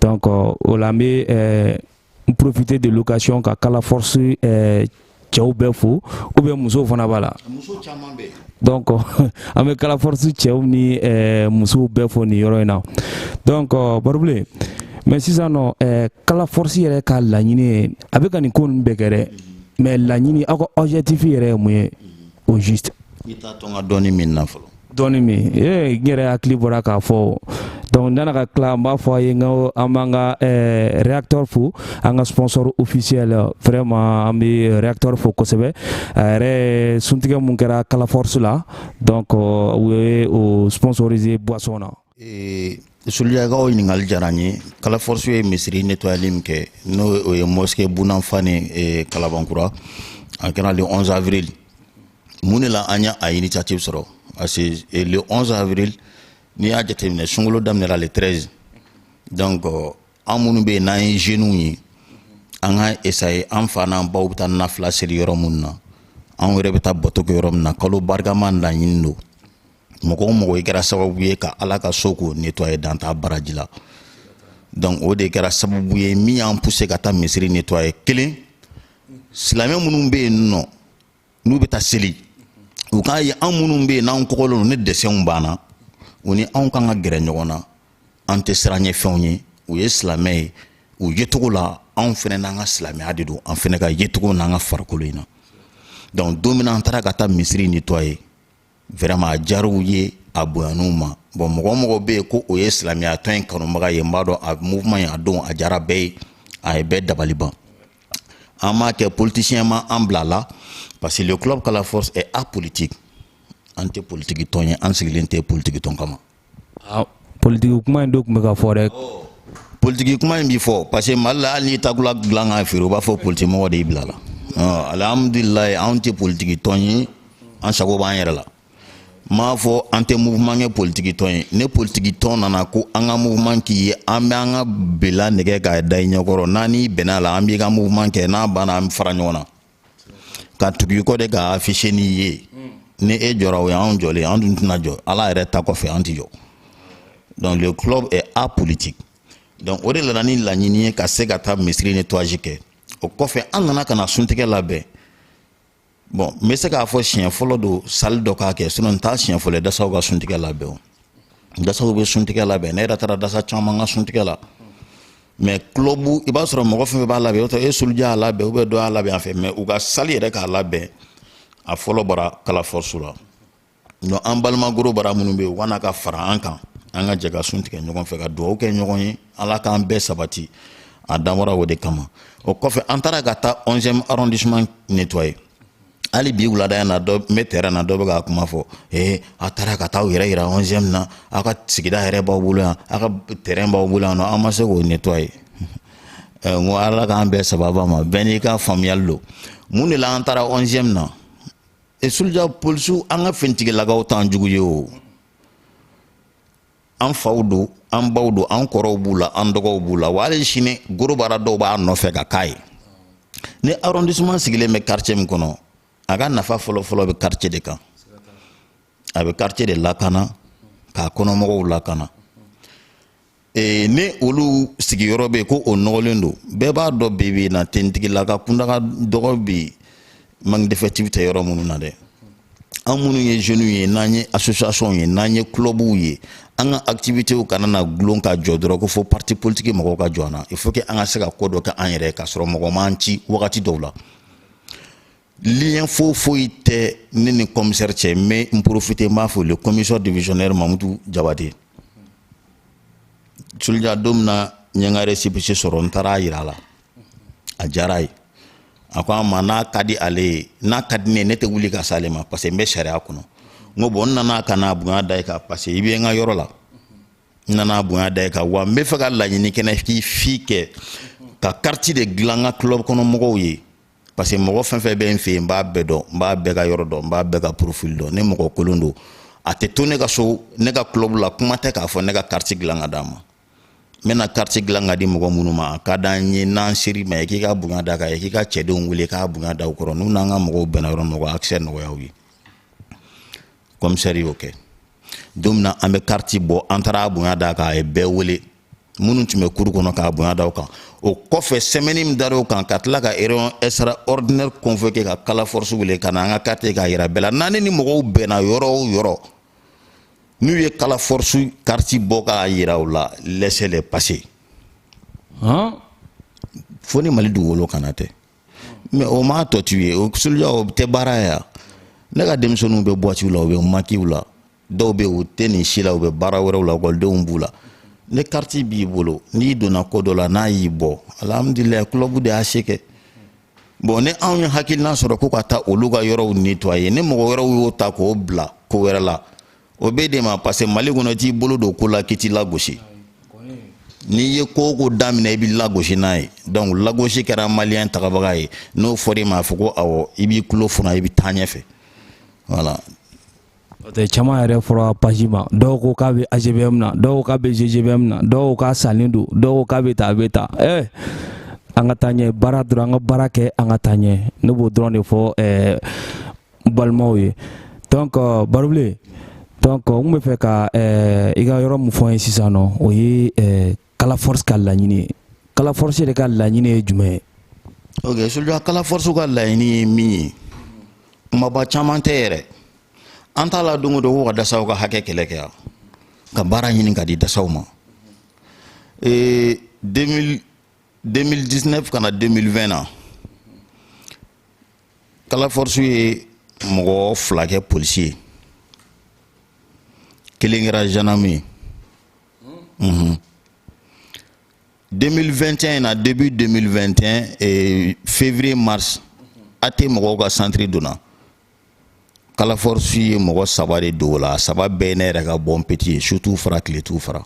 donc o la n bɛ ɛɛ n profiter de l'occasion ka kala force ɛɛ cɛw bɛɛ fo ou bien musow fana b'a la muso caman bɛ donc an bɛ kala force cɛw ni ɛɛ musow bɛɛ fo nin yɔrɔ in na donc barobule mais sisan nɔ ɛɛ kala force yɛrɛ ka laɲini ye a bɛ ka nin ko ninnu bɛɛ kɛ dɛ mais laɲini aw ka objectif yɛrɛ ye mun ye au juste i t'a to n ka dɔɔni min na fɔlɔ dɔɔni min ee n yɛrɛ hakili bɔra k'a fɔ donc nana ka tila n b'a fɔ a ye n ko an b'an ka eh, reaktor fo an ka sponsor officiel vraiment an bɛ reaktor fo kosɛbɛ a yɛrɛ suntigɛ min kɛra kala force la donc euh, u ye o sponsoriser boisson na ee soulja ka o ɲininkali diyara n ye kala force ye misiri netɔyali min kɛ n'o o ye mosquée bun afani e, kalabankura a kɛra le 11 avril mun de la an ye a initiative sɔrɔ parce que e, le 11 avril n'i y'a jateminɛ sunkalo daminɛra le 13 donc euh, an minnu bɛ yen n'an ye jeunes ye an ka essayer an fa n'an baw bɛ taa nafila seli yɔrɔ minnu na anw yɛrɛ bɛ taa bato kɛ yɔrɔ min na kalo barikama laɲini don mɔgɔ o mɔgɔ i kɛra sababu ye ka ala ka so k'o nettoyer dan t'a baraji la donc o de kɛra sababu ye min y'an pousser ka taa misiri nettoyer kelen silamɛ minnu bɛ yen nɔ n'u bɛ taa seli u k'a ye an minnu bɛ yen n'an kɔgɔlen don ni dessinw b'an na u ni anw kan ka gɛrɛ ɲɔgɔn na an tɛ siranɲɛfɛnw ye u ye silamɛ ye u yecogo la anw fana n'an ka silamɛya de don an fana ka yecogo n'an ka farikolo in na donc don min na an taara ka taa misiri nettoyer vraiment a diyar'u ye a bonyan'u ma bon mɔgɔ o mɔgɔ bɛ yen ko o ye silamɛyatɔn in kanubaga ye n b'a dɔn a mouvement in a don a diyara bɛɛ ye a ye bɛɛ dabali ban an m'a kɛ politicien ma an bila la parce que le club kala force est apolitique an tɛ politiki tɔn ye an sigilen tɛ politiki tɔn kama ah, politigi kuma in dɔ tun bɛ ka fɔ dɛ politigi kuma in bɛ fɔ parce que mali la hali n'i takula dilan k'a feere u b'a fɔ politikimɔgɔ de y'i bila la ah, alihamudulilayi anw tɛ politigi tɔn ye an sago b'an yɛrɛ la n m'a fɔ an tɛ mouvement kɛ politiki tɔn ye ni politiki tɔn nana ko an ka mouvement k'i ye an bɛ an ka bela nɛgɛ k'a da i ɲɛkɔrɔ n'an n'i bɛnn'a la an b'i ka mouvement kɛ n'a banna an bɛ fara ɲɔgɔn na ka tugu i kɔ de ka afficher n'i ye ni e jɔra o ye anw jɔlen anw dun tɛna jɔ ala yɛrɛ ta kɔfɛ an tɛ jɔ donc le club est apolitique donc o de nana ni laɲini ye ka se ka taa misiri nettoyage kɛ o kɔfɛ an nana ka na suntigɛ labɛn bon n bɛ se k'a fɔ siɲɛ fɔlɔ don salle dɔ k'a kɛ sinon n t'a siɲɛ fɔlɔ ye dasaw ka suntigɛ labɛn o dasaw bɛ suntigɛ labɛn ne yɛrɛ taara dasa caman ka suntigɛ la mais club i b'a sɔrɔ mɔgɔ fɛn fɛn b'a labɛn o tɛ e suluja y'a labɛn ou bien dɔ y'a labɛn a fɛ mais u ka salle yɛrɛ k'a labɛn a fɔlɔ bɔra Kala Force la donc an balima gros bras minnu bɛ yen u ka na ka fara an kan an ka jɛ ka sun tigɛ ɲɔgɔn fɛ ka dugawu kɛ ɲɔgɔn ye ala k'an bɛɛ sabati a dabɔra o de kama o kɔfɛ an taara ka taa 11e arrondissement nettoyer hali bi wulada in na dɔ n bɛ terrain na dɔ bɛ ka kuma fɔ ee a taara ka taa aw yɛrɛ yira onzième na aw ka sigida yɛrɛ b'aw bolo yan aw ka terrain b'aw bolo yan nɔ aw ma se k'o nettoyer n ko ala k'an bɛɛ sababa ma bɛɛ n'i ka faamuyali don mun de la an taara onzième na suluja polisiw an ka finitigilakaw t'an jugu ye o an faw don an baw don an kɔrɔw b'u la an dɔgɔw b'u la wa hali sini gros bras dɔw b'a nɔfɛ ka k'a ye ni arrondissement sigilen bɛ quartier min kɔnɔ a ka nafa fɔlɔfɔlɔ bɛ quartier de kan a bɛ quartier de lakana k'a kɔnɔmɔgɔw lakana ee ni olu sigiyɔrɔ bɛ yen ko o nɔgɔlen don bɛɛ b'a dɔn bi bi in na finitigilakaw kunda ka dɔgɔ bi manque d'effectif tɛ yɔrɔ minnu na dɛ an minnu ye jeunes ye n'an ye association ye n'an ye clubw ye an ka activitéw kana na gulon ka jɔ dɔrɔn ko fo parti politique mɔgɔw ka jɔ an na il faut que an ka se ka ko dɔ kɛ an yɛrɛ ka sɔrɔ mɔgɔ m'an ci wagati dɔw la lien fo foyi tɛ ne ni commissaire cɛ mais n profite n b'a fo le commissaire divisionnaire Mamutu Jabate Soldier don min na n ye n ka récépissé sɔrɔ n taara a yira a la a diyara a ye a ko an ma n'a ka di ale ye n'a ka di ne ye ne tɛ wuli ka s'ale ma parce que n bɛ sariya kɔnɔ n ko bon n nana ka n'a bonya da i kan parce que i bɛ n ka yɔrɔ la n nana bonya da i kan wa n bɛ fɛ ka laɲini kelen k'i fɛ ka carte de dilan n ka club kɔnɔ mɔgɔw ye parce que mɔgɔ fɛn fɛn bɛ n fɛ yen n b'a bɛɛ dɔn n b'a bɛɛ ka yɔrɔ dɔn n b'a bɛɛ ka profil dɔn ni mɔgɔ kolon don a tɛ to ne ka so ne ka club la kuma tɛ k'a fɔ ne ka carte dilan ka d'a ma n bɛna carte dilan ka di mɔgɔ minnu ma a ka d'an ye n'an ser'i ma ye k'i ka bonya d'a kan ye k'i ka cɛdenw wele k'a bonya da u kɔrɔ n'u n'an ka mɔgɔw bɛnna yɔrɔ min na accès nɔgɔya u ye commissaire y'o kɛ don min na an bɛ carte bɔ an taara a bonya d'a kan a ye bɛɛ wele minnu tun bɛ cour kɔnɔ k'a bonya da u kan o kɔfɛ semaine min dar'o kan ka tila ka réunion extraordinaire convoquer ka Kala Force wele ka na an ka carte k'a yira bɛɛ la n'an ni mɔgɔw bɛnna yɔrɔ o yɔrɔ n'u ye kala force kariti bɔ k'a yira u la laissez les passer fo ni mali dugukolo kana tɛ mais o m'a tɔ to yen o soluja o tɛ baara ye yan ne ka denmisɛnninw bɛ boîtiw la u bɛ makiw la dɔw bɛ u tɛ nin si la u bɛ baara wɛrɛw la ekɔlidenw b'u la ni kariti b'i bolo n'i donna ko dɔ la n'a y'i bɔ alihamudulilayi kulɔbu de y'a se kɛ bon ni anw ye hakilina sɔrɔ ko ka taa olu ka yɔrɔw netwaye ni mɔgɔ wɛrɛw y'o ta k'o bila ko wɛrɛ la o bɛ de ma parce que mali kɔnɔ t'i bolo don ko la k'i tɛ lagosi n'i ye ko o ko daminɛ i bɛ lagosi n'a ye donc lagosi kɛra maliyɛn tagabaga ye n'o fɔra i ma a fɔ ko awɔ i b'i tulo funa i bɛ taa ɲɛfɛ voilà Tɛ caman yɛrɛ fɔra page ma dɔw ko k'a bɛ AGBM na dɔw ko k'a bɛ GGBM na dɔw ko k'a salen don dɔw ko k'a bɛ taa a bɛ taa ɛɛ an ka taa ɲɛ baara dɔrɔn an ka baara kɛ an ka taa ɲɛ ne b'o dɔrɔn de fɔ ɛɛ balimaw ye donc barubilen donc n tun b'a fɛ ka i ka yɔrɔ min fɔ n ye sisan nɔ o ye kala force ka laɲini ye kala force de ka laɲini ye jumɛn ye ok soluja kala force ka laɲini ye min ye kumaba caman tɛ yɛrɛ an t'a la don o don ko ka dasaw ka hakɛ kɛlɛ kɛ yan ka baara ɲini ka di dasaw ma ee 2000 2019 ka na 2020 na kala force ye mɔgɔ fila kɛ polisi ye kelen kɛra gendarme ye mhm. 2021 na début 2021 février mars AT mɔgɔw ka santiri donna kala force ye mɔgɔ saba de don o la saba bɛɛ ne yɛrɛ ka bon petit ye su t'u fara tile t'u fara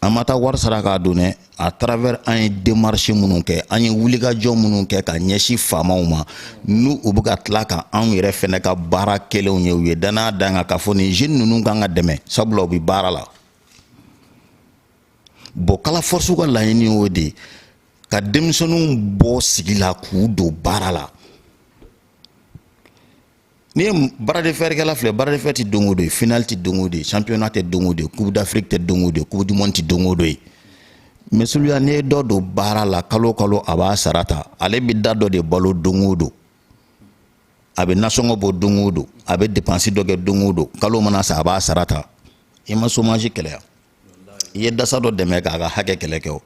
an ma taa wari sara k'a don dɛ a travers an ye demarche minnu kɛ an ye wulikajɔ minnu kɛ ka ɲɛsin faamaw ma n'u u bɛ ka tila ka anw yɛrɛ fɛnɛ ka baara kɛlenw ye u ye dannaya d'an kan k'a fɔ nin jeune ninnu kan ka dɛmɛ sabula u bɛ baara la bon kala force ka laɲini y'o de ka denmisɛnninw bɔ sigi la k'u don baara la n'i ye bras de fer kɛla filɛ bras de fer tɛ don o don ye finali tɛ don o don ye championnat tɛ don o don ye coupe d'afrique tɛ don o don ye coupe du monde tɛ don o don ye mais soluja n'i ye dɔ don baara la kalo o kalo a b'a sara ta ale bɛ da dɔ de balo don o don a bɛ nasɔngɔ bɔ don o don a bɛ depansi dɔ kɛ don o don kalo mana sa a b'a sara ta i ma chômage kɛlɛ yan i ye dasa dɔ dɛmɛ k'a ka hakɛ kɛlɛ kɛ o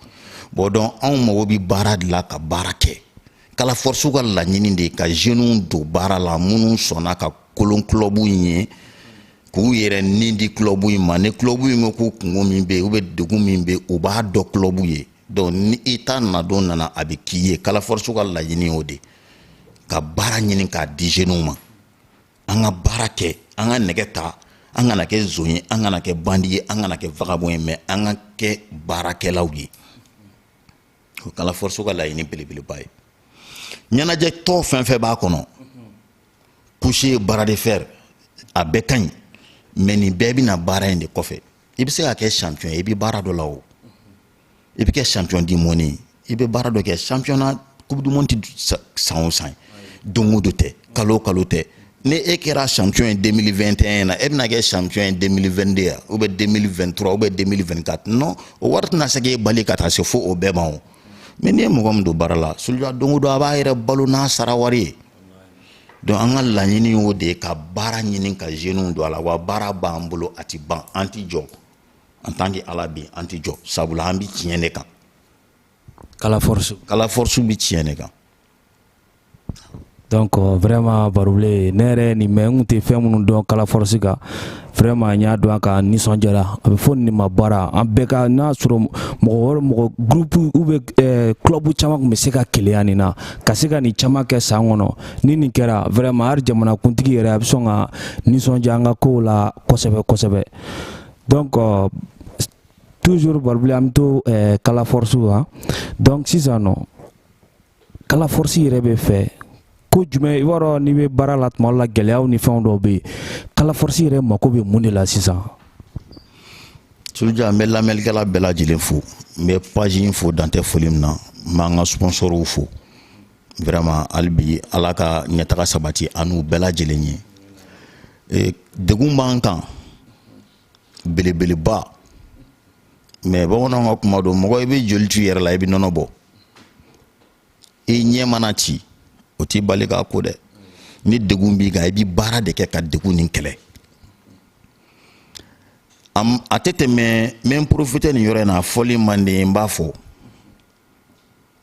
bon donc anw mago bi baara de la ka baara kɛ kala force ka laɲini de ye ka zeniw don baara la minnu sɔnna ka kolo kulɔbu in ye k'u yɛrɛ ni di kulɔbu in ma ni kulɔbu in ko k'u kunko min bɛ yen ou bien degun min bɛ yen u b'a dɔ kulɔbu ye donc ni i ta nadon nana a bɛ k'i ye kala force ka laɲini y'o de ka baara ɲini k'a di zeniw ma an ka baara kɛ an ka nɛgɛ ta an kana kɛ zon ye an kana kɛ bandi ye an kana kɛ vagabond ye mais an ka kɛ baarakɛlaw ye o kala force ka laɲini belebeleba ye ɲɛnajɛ tɔ fɛn fɛn b'a kɔnɔ couché bras de fer a bɛɛ ka ɲi mais nin bɛɛ bɛna baara in de kɔfɛ i bɛ se ka kɛ champion ye i bɛ baara dɔ la o i bɛ kɛ champion du monde ye i bɛ baara dɔ kɛ championnat coupe du monde tɛ san o san don o don tɛ kalo o kalo tɛ ni e kɛra champion ye 2021 na e bɛna kɛ champion ye 2022 ya ou bien 2023 ou bien 2024 non o wari tɛna se k'e balo ka taa se fo o bɛɛ ma o mais n'i ye mɔgɔ min don baara la suluja don o don a b'a yɛrɛ balo n'a sara wari ye donc an ka laɲini y'o de ye ka baara ɲini ka jeunes don a la wa baara b'an bolo a tɛ ban an tɛ jɔ en tant que ala bɛ an tɛ jɔ sabula an bɛ tiɲɛ de kan kala force kala force bɛ tiɲɛ de kan donc euh, vraiment barubile ne yɛrɛ nin mɛ n tun tɛ fɛn minnu dɔn kala force kan vraiment n y'a dɔn a ka nisɔndiyara a bɛ fɔ nin ma baara an bɛɛ ka n'a sɔrɔ mɔgɔ wɛrɛ mɔgɔ groupe ou bien eh, club caman tun bɛ se ka keleya nin na ka se ka nin caman kɛ san kɔnɔ ni nin kɛra vraiment hali jamanakuntigi yɛrɛ a bɛ sɔn ka nisɔndiya an ka kow la kosɛbɛ kosɛbɛ donc euh, toujours barubile an bɛ to eh, kala force kan donc sisan nɔ kala force yɛrɛ bɛ fɛ ko jumɛn i b'a dɔn n'i bɛ baara la tuma dɔ la gɛlɛyaw ni fɛnw dɔw bɛ yen kala force yɛrɛ mako bɛ mun de la sisan. Suruja n bɛ lamɛnnikɛla bɛɛ lajɛlen fo n bɛ page in fo dan tɛ foli min na n b'an ka sponsorw fo. vraiment hali bi ala ka ɲɛtaga sabati an n'u bɛɛ lajɛlen ye e, degun b'an kan belebeleba mais bamananw ka kuma don mɔgɔ i bɛ joli to i yɛrɛ la i bɛ nɔnɔ bɔ i ɲɛ mana ci o t'i bali k'a ko dɛ ni degun b'i kan i bɛ baara de kɛ ka degun nin kɛlɛ a tɛ tɛmɛ n bɛ n profiter nin yɔrɔ in na a fɔli man di n b'a fɔ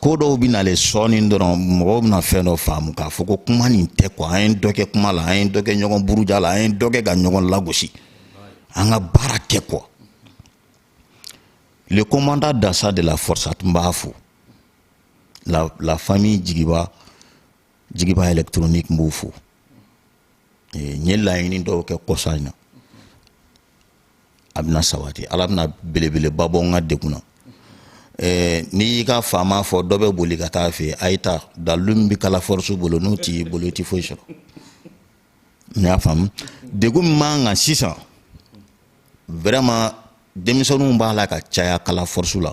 ko dɔw bɛ nalen sɔɔni dɔrɔn mɔgɔw bɛna fɛn dɔ faamu k'a fɔ ko kuma nin tɛ quoi an ye dɔ kɛ kuma la an ye dɔ kɛ ɲɔgɔn buruja la an ye dɔ kɛ ka ɲɔgɔn lagosi an ka baara kɛ quoi le commandant dansa de la force a tun b'a fo la la famille jigiba jigiba électronique n b'o fo n ye laɲini dɔw kɛ kɔsa in na a bɛna sabati ala bɛna belebeleba bɔ n ka degun na eh, n'i y'i ka faama fɔ dɔ bɛ boli ka taa fɔ a ye ta dalu min bɛ kala force bolo n'o t'i bolo i tɛ foyi sɔrɔ n'i y'a faamu degun min b'an kan sisan vraiment denmisɛnninw b'a la ka caya kala force la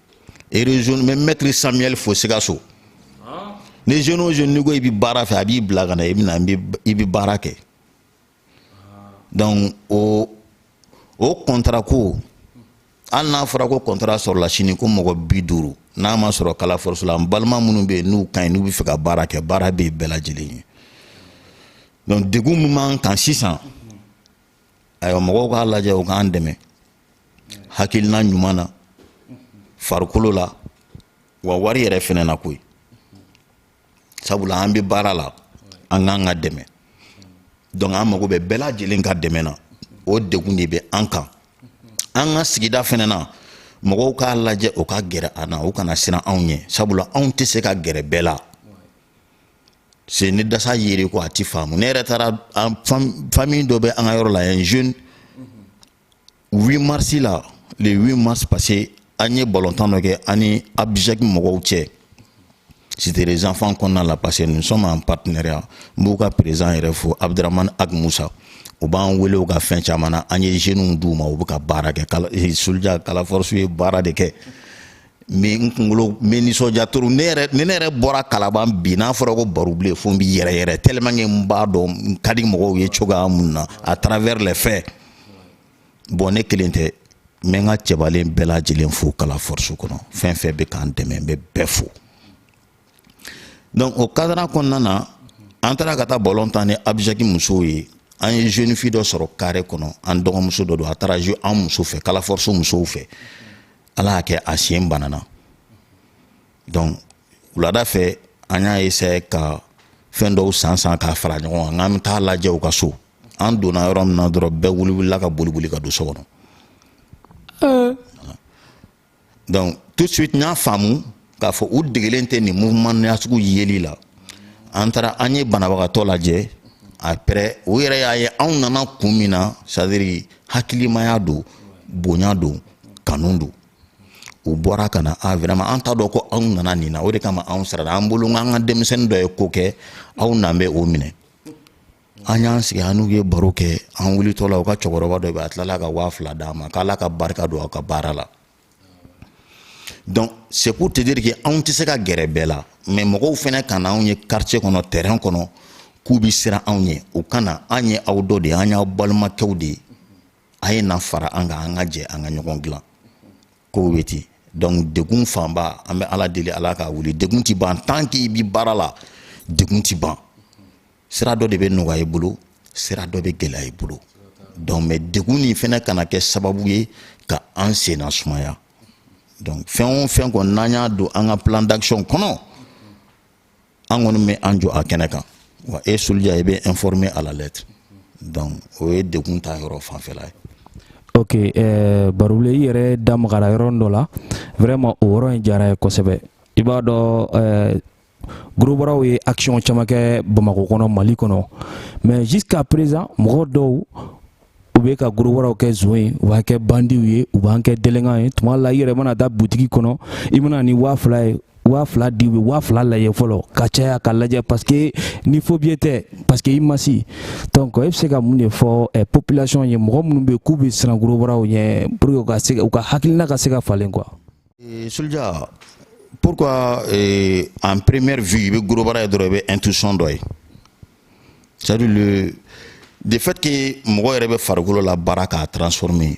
région mais maître samuel fo sikaso ni jeune o jeune n'i ko i bɛ baara fɛ a b'i bila ka na i bɛna i bɛ baara kɛ donc o o contrat ko hali n'a fɔra ko contrat sɔrɔla sini ko mɔgɔ bi duuru n'a ma sɔrɔ kala force la n balima minnu bɛ yen n'u ka ɲi n'u bɛ fɛ ka baara kɛ baara bɛ yen bɛɛ lajɛlen ye donc degun min b'an kan sisan ayiwa mɔgɔw k'a lajɛ u k'an dɛmɛ hakilina ɲuman na farikolo la wa wari yɛrɛ fɛnɛ na koyi sabula an bɛ baara la an k'an ka dɛmɛ donc an mago bɛ bɛɛ lajɛlen ka dɛmɛ na o degun de bɛ an kan an ka sigida fɛnɛ na mɔgɔw k'a lajɛ u ka gɛrɛ an na u kana siran anw ɲɛ sabula anw tɛ se ka gɛrɛ bɛɛ la se ni dasa yiri ko a ti faamu ne yɛrɛ taara famille dɔ bɛ an ka yɔrɔ la yan jeune 8 mars la le 8 mars passé an ye balontan dɔ kɛ an ni abjek mɔgɔw cɛ cité des enfants kɔnɔna la parce que nous sommes en partenariat n b'u ka président yɛrɛ fo abdramane ag moussa u b'an wele u ka fɛn caman na an ye jeunes d'u ma u bɛ ka baara kɛ soldier kala force ye baara de kɛ mais n kunkolo n bɛ nisɔndiya trop ne yɛrɛ ni ne yɛrɛ bɔra kalaban bi n'a fɔra ko baro bilen fo n bi yɛrɛ yɛrɛ tellement que n b'a dɔn n ka di mɔgɔw ye cogoya min na à travers les faits bon ne kelen tɛ n bɛ n ka cɛbalen bɛɛ lajɛlen fo kala force kɔnɔ fɛn fɛn bɛ k'an dɛmɛ n bɛ bɛɛ fo donc o cadre kɔnɔna na an taara ka taa ballon tan ni abjek musow ye an ye jeune fille dɔ sɔrɔ carré kɔnɔ an dɔgɔmuso dɔ don a taara an muso fɛ kala force musow fɛ ala y'a kɛ a sen banana donc wulada fɛ an y'a essayé ka fɛn dɔw san san k'a fara ɲɔgɔn kan k'an bɛ taa lajɛ u ka so an donna yɔrɔ min na dɔrɔn bɛɛ wulila ka boliboli ka don so kɔnɔ donc tout de suite n y'a faamu k'a fɔ u degelen tɛ nin mouvement nasugu yeli la an taara an ye banabagatɔ lajɛ après u yɛrɛ y'a ye anw nana kun min na c'est à dire hakilimaya don bonya don kanu don u bɔra ka na a ah, vraiment an t'a dɔn ko aw nana nin na o de kama anw siranna an bolo an ka denmisɛnnin dɔ ye ko kɛ aw nan bɛ o minɛ an y'an sigi an n'u ye baro kɛ an wulitɔ la u ka cɛkɔrɔba dɔ bɛ a tilala ka waa fila d'an ma k'ala ka barika don aw ka baara la donc c'est pour te dire que anw tɛ se ka gɛrɛ bɛɛ la mais mɔgɔw fɛnɛ kana anw ye quartier kɔnɔ terrain kɔnɔ k'u bi siran anw ɲɛ u ka na an ye aw dɔ de ye an y'aw balimakɛw de ye a ye na fara an kan an ka jɛ an ka ɲɔgɔn dilan kow bɛ ten donc degun fanba an bɛ ala deli ala k'a wuli degun ti ban tant que i bi baara la degun ti ban sira dɔ de bɛ nɔgɔya i bolo sira dɔ bɛ gɛlɛya i bolo donc mais degun nin fɛnɛ kana kɛ sababu ye ka an senna sumaya donc fɛn o fɛn kɔni n'an y'a don an ka plan d'action kɔnɔ an kɔni bɛ an jɔ a kɛnɛ kan wa e Soulja i bɛ informer à la lettre donc o ye degun ta yɔrɔ fanfɛla ye ok eh, barule i yɛrɛ da magara yɔrɔ dɔ la vraiment o yɔrɔ in diyara n ye kosɛbɛ i b'a dɔn eh, Gorobaraw ye action caman kɛ Bamakɔ kɔnɔ Mali kɔnɔ mais jusqu'à présent mɔgɔ dɔw u bɛ ka gorobaraw kɛ zon ye u b'an kɛ bandiw ye u b'an kɛ délinquant ye tuma la i yɛrɛ mana taa butigi kɔnɔ i mana ni waa fila ye waa fila di u bɛ waa fila lajɛ fɔlɔ ka caya ka lajɛ parce que ni faux billet tɛ parce que image donc e bɛ se ka mun de fɔ eh, population ye mɔgɔ minnu bɛ k'u bɛ siran gorobaraw ɲɛ pour que u ka se u ka hakilina ka se ka falen quoi Et Soulja, pourquoi euh, en première vue, i bɛ gorobara ye intuition d'oeil C'est-à-dire le, le fait que mɔgɔ yɛrɛ bɛ farikolo labaara k'a transformer,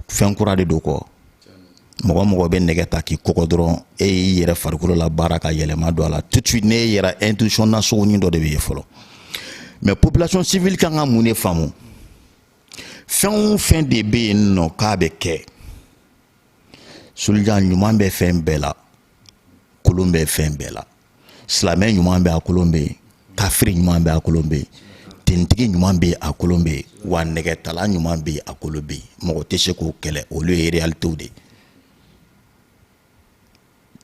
fɛn kura de don quoi. mɔgɔ o mɔgɔ bɛ nɛgɛ ta k'i kɔgɔ dɔrɔn e y'i yɛrɛ farikolo labaara k'a yɛlɛma don a la tout de suite ne yɛrɛ intuition na sogonin dɔ de bɛ ye fɔlɔ mais population civile kan ka mun de faamu fɛn o fɛn de bɛ yen nɔ k'a bɛ kɛ Soulja ɲuman bɛ fɛn bɛɛ la kolon bɛ fɛn bɛɛ la silamɛ ɲuman bɛ a kolon bɛ yen kafiri ɲuman bɛ a kolon bɛ yen tenitigi ɲuman bɛ yen a kolon bɛ yen wa nɛgɛtala ɲuman bɛ yen a kolon bɛ yen mɔgɔ tɛ se k'o kɛlɛ olu ye realitew de ye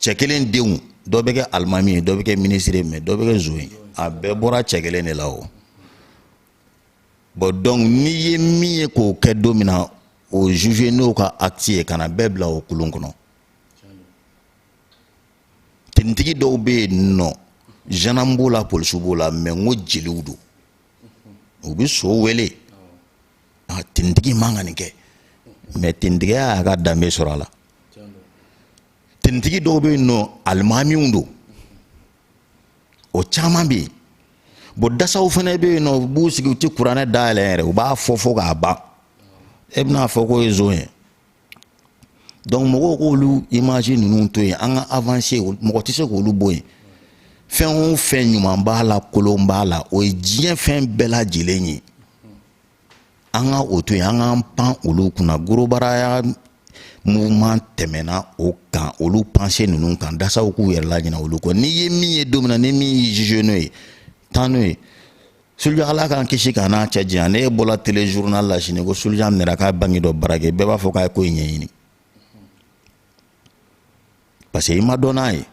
cɛ kelen denw dɔ bɛ kɛ alimami ye dɔ bɛ kɛ minisiri ye mais dɔ bɛ kɛ zon ye a bɛɛ bɔra cɛ kelen de la o bon donc n'i ye min ye k'o kɛ don min na o juger n'o ka acte ye kana bɛɛ bila o kulun kɔnɔ tenitigi dɔw bɛ yen nɔ gendarme b'o la polisiw b'o la mais n ko jeliw don u bɛ so wele a tenitigi man kan ka nin kɛ mais tenitigiya y'a ka danbe sɔrɔ a la tenitigi dɔw bɛ yen nɔ alimamiw don o caman bɛ yen bon dasaw fɛnɛ bɛ yen nɔ u b'u sigi u tɛ kuranɛ dayɛlɛ yɛrɛ u b'a fɔ fo k'a ban e bɛna a fɔ k'o ye zon ye donc mɔgɔw k'olu image ninnu to yen an ka avancer mɔgɔ tɛ se k'olu bɔ yen fɛn o fɛn ɲuman b'a la kolon b'a la o ye diɲɛ fɛn bɛɛ lajɛlen ye an ka o to yen an k'an pan olu kunna gorobaraya mouvement tɛmɛna o kan olu pensées ninnu kan dasaw k'u yɛrɛ laɲina olu kɔ n'i ye min ye don min na ni min y'i juger n'o ye taa n'o ye Soulja ala k'an kisi ka n'a cɛ janya ne bɔla téléjournal la sini ko Soulja minɛra ka banki dɔ braquer bɛɛ b'a fɔ k'a ye ko in ɲɛɲini parce que i m'a dɔn n'a ye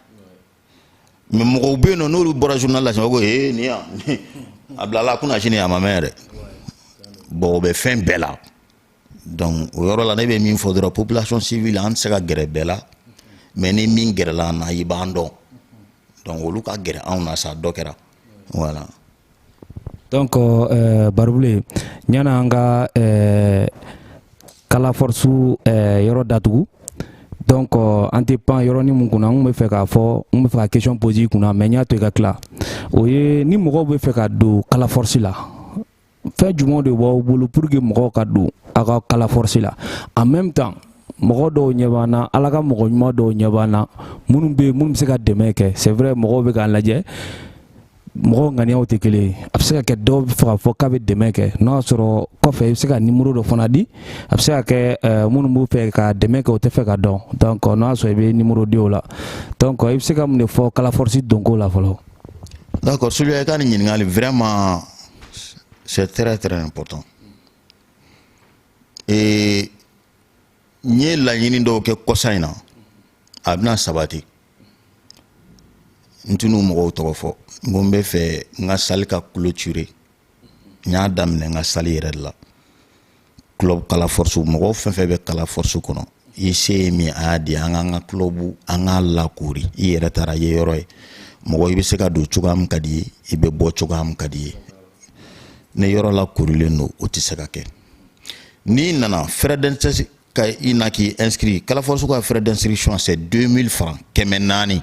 mais mɔgɔw bɛ yen nɔ n'olu bɔra journal la sisan ko ee nin yan a bilala a kunna sini a ma mɛn yɛrɛ bon o bɛ fɛn bɛɛ la donc o yɔrɔ la ne bɛ min fɔ dɔrɔn population civile an tɛ se ka gɛrɛ bɛɛ la mais ni min gɛrɛla an na i b'an dɔn donc olu ka gɛrɛ anw na sa dɔ kɛra voilà donc eh, Barubilen ɲana an ka eh, kala force eh, yɔrɔ datugu donc euh, an tɛ pan yɔrɔnin min kunna n bɛ fɛ k'a fɔ n bɛ fɛ ka question poser i kunna mais n y'a to i ka tila o ye ni mɔgɔw bɛ fɛ ka don kala force la fɛn jumɛn de b'aw bolo pour que mɔgɔw ka don aw ka kala force la en même temps mɔgɔ dɔw ɲɛ b'an na ala ka mɔgɔ ɲuman dɔw ɲɛ b'an na minnu bɛ yen minnu bɛ se ka dɛmɛ kɛ c'est vrai mɔgɔw bɛ k'an lajɛ mɔgɔw ŋaniyaw tɛ kelen ye a bɛ se ka kɛ dɔw bɛ fɛ k'a fɔ k'a bɛ dɛmɛ kɛ n'o y'a sɔrɔ kɔfɛ i bɛ se ka nimoro dɔ fana di a bɛ se ka kɛ eh, minnu b'u fɛ ka dɛmɛ kɛ o tɛ fɛ ka don donc n'o y'a sɔrɔ i bɛ nimoro di o la donc i bɛ se ka mun de fɔ kala force donko la fɔlɔ. d'accord Suliya i ka nin ɲininkali vraiment C'est très très important. Et n ye laɲini dɔw kɛ kɔsa in na a bɛna sabati n tɛn'o mɔgɔw tɔgɔ fɔ n ko n bɛ fɛ n ka salle ka clôturer n y'a daminɛ n ka salle yɛrɛ de la club kala force mɔgɔ fɛn fɛn bɛ kala force kɔnɔ i se ye min a y'a di an k'an ka club an k'a lakori i yɛrɛ taara i ye yɔrɔ ye mɔgɔ i bɛ se ka don cogoya min ka d'i ye i bɛ bɔ cogoya min ka d'i ye ni yɔrɔ lakorilen don o tɛ se ka kɛ n'i nana frais d'inscription ka i na k'i inscrit kala force ka frais d'inscription c'est 2000 francs kɛmɛ naani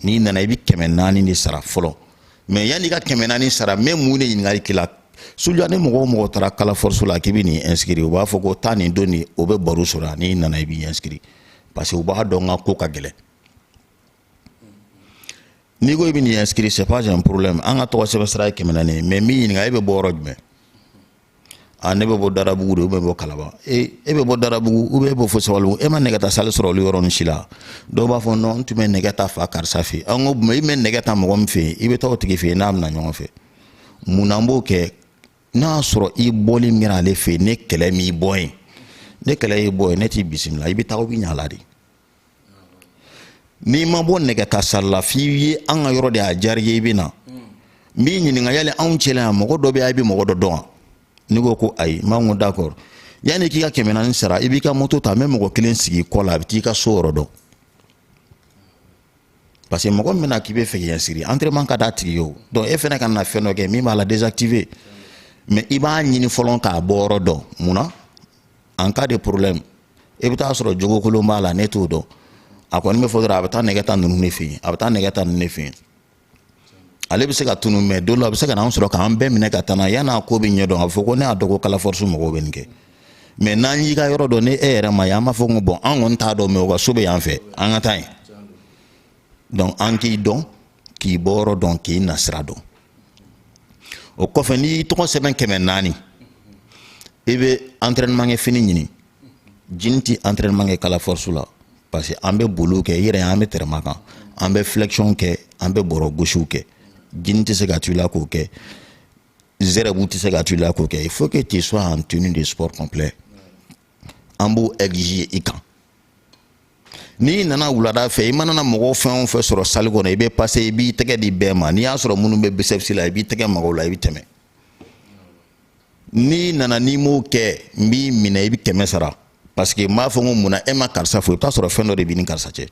n'i nana i bɛ kɛmɛ naani de sara fɔlɔ mais yanni ka kɛmɛ naani sara même mun de ɲininkali k'i la Suliya ni mɔgɔ o mɔgɔ taara kala force la k'i bɛ n'i inscrit u b'a fɔ ko taa nin don nin o bɛ Baru sɔrɔ n'i nana i b'i inscrit parce que u b'a dɔn n ka ko ka gɛlɛn n'i ko i bɛ n'i inscrit c'est pas un problème an ka tɔgɔ sɛbɛn sara ye kɛmɛ naani mais n b'i ɲininka e bɛ bɔ yɔrɔ jumɛn a ne bɛ bɔ darabugu de bɛ bɔ kalaban e e bɛ bɔ darabugu ou bɛ bɔ fo sabalibugu e ma nɛgɛ ta salle sɔrɔ olu yɔrɔ nin si la dɔw b'a fɔ non n tun bɛ nɛgɛ ta fa karisa fɛ an ko i bɛ nɛgɛ ta mɔgɔ min fɛ yen i bɛ taa o tigi fɛ yen n'aw bɛ na ɲɔgɔn fɛ mun na an b'o kɛ n'a y'a sɔrɔ i bɔli min kɛra ale fɛ yen ni kɛlɛ m'i bɔ yen ni kɛlɛ y'i bɔ yen ne t'i bisimila i bɛ taa o bɛ ɲa a la de n'i ma bɔ nɛgɛ ta salle la f'i ye an ka yɔrɔ de y'a diyara i ye i bɛ na n b'i ɲininka yali anw cɛla yan mɔgɔ dɔ bɛ yan i bɛ mɔgɔ dɔ dɔn wa n'i ko ko ayi n b'a ko d'accord yanni k'i ka kɛmɛ naani sara i b'i ka moto ta n bɛ mɔgɔ kelen sigi i kɔ la a bɛ t'i ka so yɔrɔ dɔn parce que mɔgɔ min bɛna k'i bɛ fɛ k'i inscrit entraînement ka d'a tigi ye o donc e fana kana fɛn dɔ kɛ min b'a la désactiver mais i b'a ɲini fɔlɔ k'a bɔ yɔrɔ dɔn mun na en cas de problème i bɛ taa sɔrɔ jogokolon b'a la ne t'o dɔn a kɔni bɛ fɔ dɔrɔn a bɛ taa nɛgɛ ta ninnu de fɛ yen a bɛ taa nɛgɛ ta ninnu de fɛ yen ale bɛ se ka tunu mais don dɔ a bɛ se ka n'an sɔrɔ k'an bɛɛ minɛ ka taa n'an ye yan'a ko bɛ ɲɛdɔn a bɛ fɔ ko ne y'a dɔn ko kala force mɔgɔw bɛ nin kɛ mais n'an y'i ka yɔrɔ dɔn ni e yɛrɛ ma ye an b'a fɔ ko bon an kɔni t'a dɔn mais u ka so bɛ yan fɛ an ka taa yen donc an k'i dɔn k'i bɔyɔrɔ dɔn k'i nasira dɔn o kɔfɛ n'i y'i tɔgɔ sɛbɛn kɛmɛ naani i bɛ entraînement kɛ fini ɲini jini tɛ entraînement kɛ kala force la parce que an bɛ boliw kɛ i yɛrɛ an bɛ tɛrɛma kan an bɛ flexion kɛ an bɛ bɔrɔ gosiw kɛ jini tɛ se ka to i la k'o kɛ zɛrɛbu tɛ se ka to i la k'o kɛ il faut que tu sois en tenue de sport complet an b'o exiger i kan n'i nana wulada fɛ i mana na mɔgɔw fɛn o fɛn sɔrɔ salle kɔnɔ i bɛ passer i b'i tɛgɛ di bɛɛ ma n'i y'a sɔrɔ minnu bɛ biceps la i b'i tɛgɛ mag'u la i bɛ tɛmɛ n'i nana n'i m'o kɛ n b'i minɛ i bɛ kɛmɛ sara parce que n b'a fɔ n ko mun na e ma karisa fo i bɛ t'a sɔrɔ fɛn dɔ de b'i ni karisa cɛ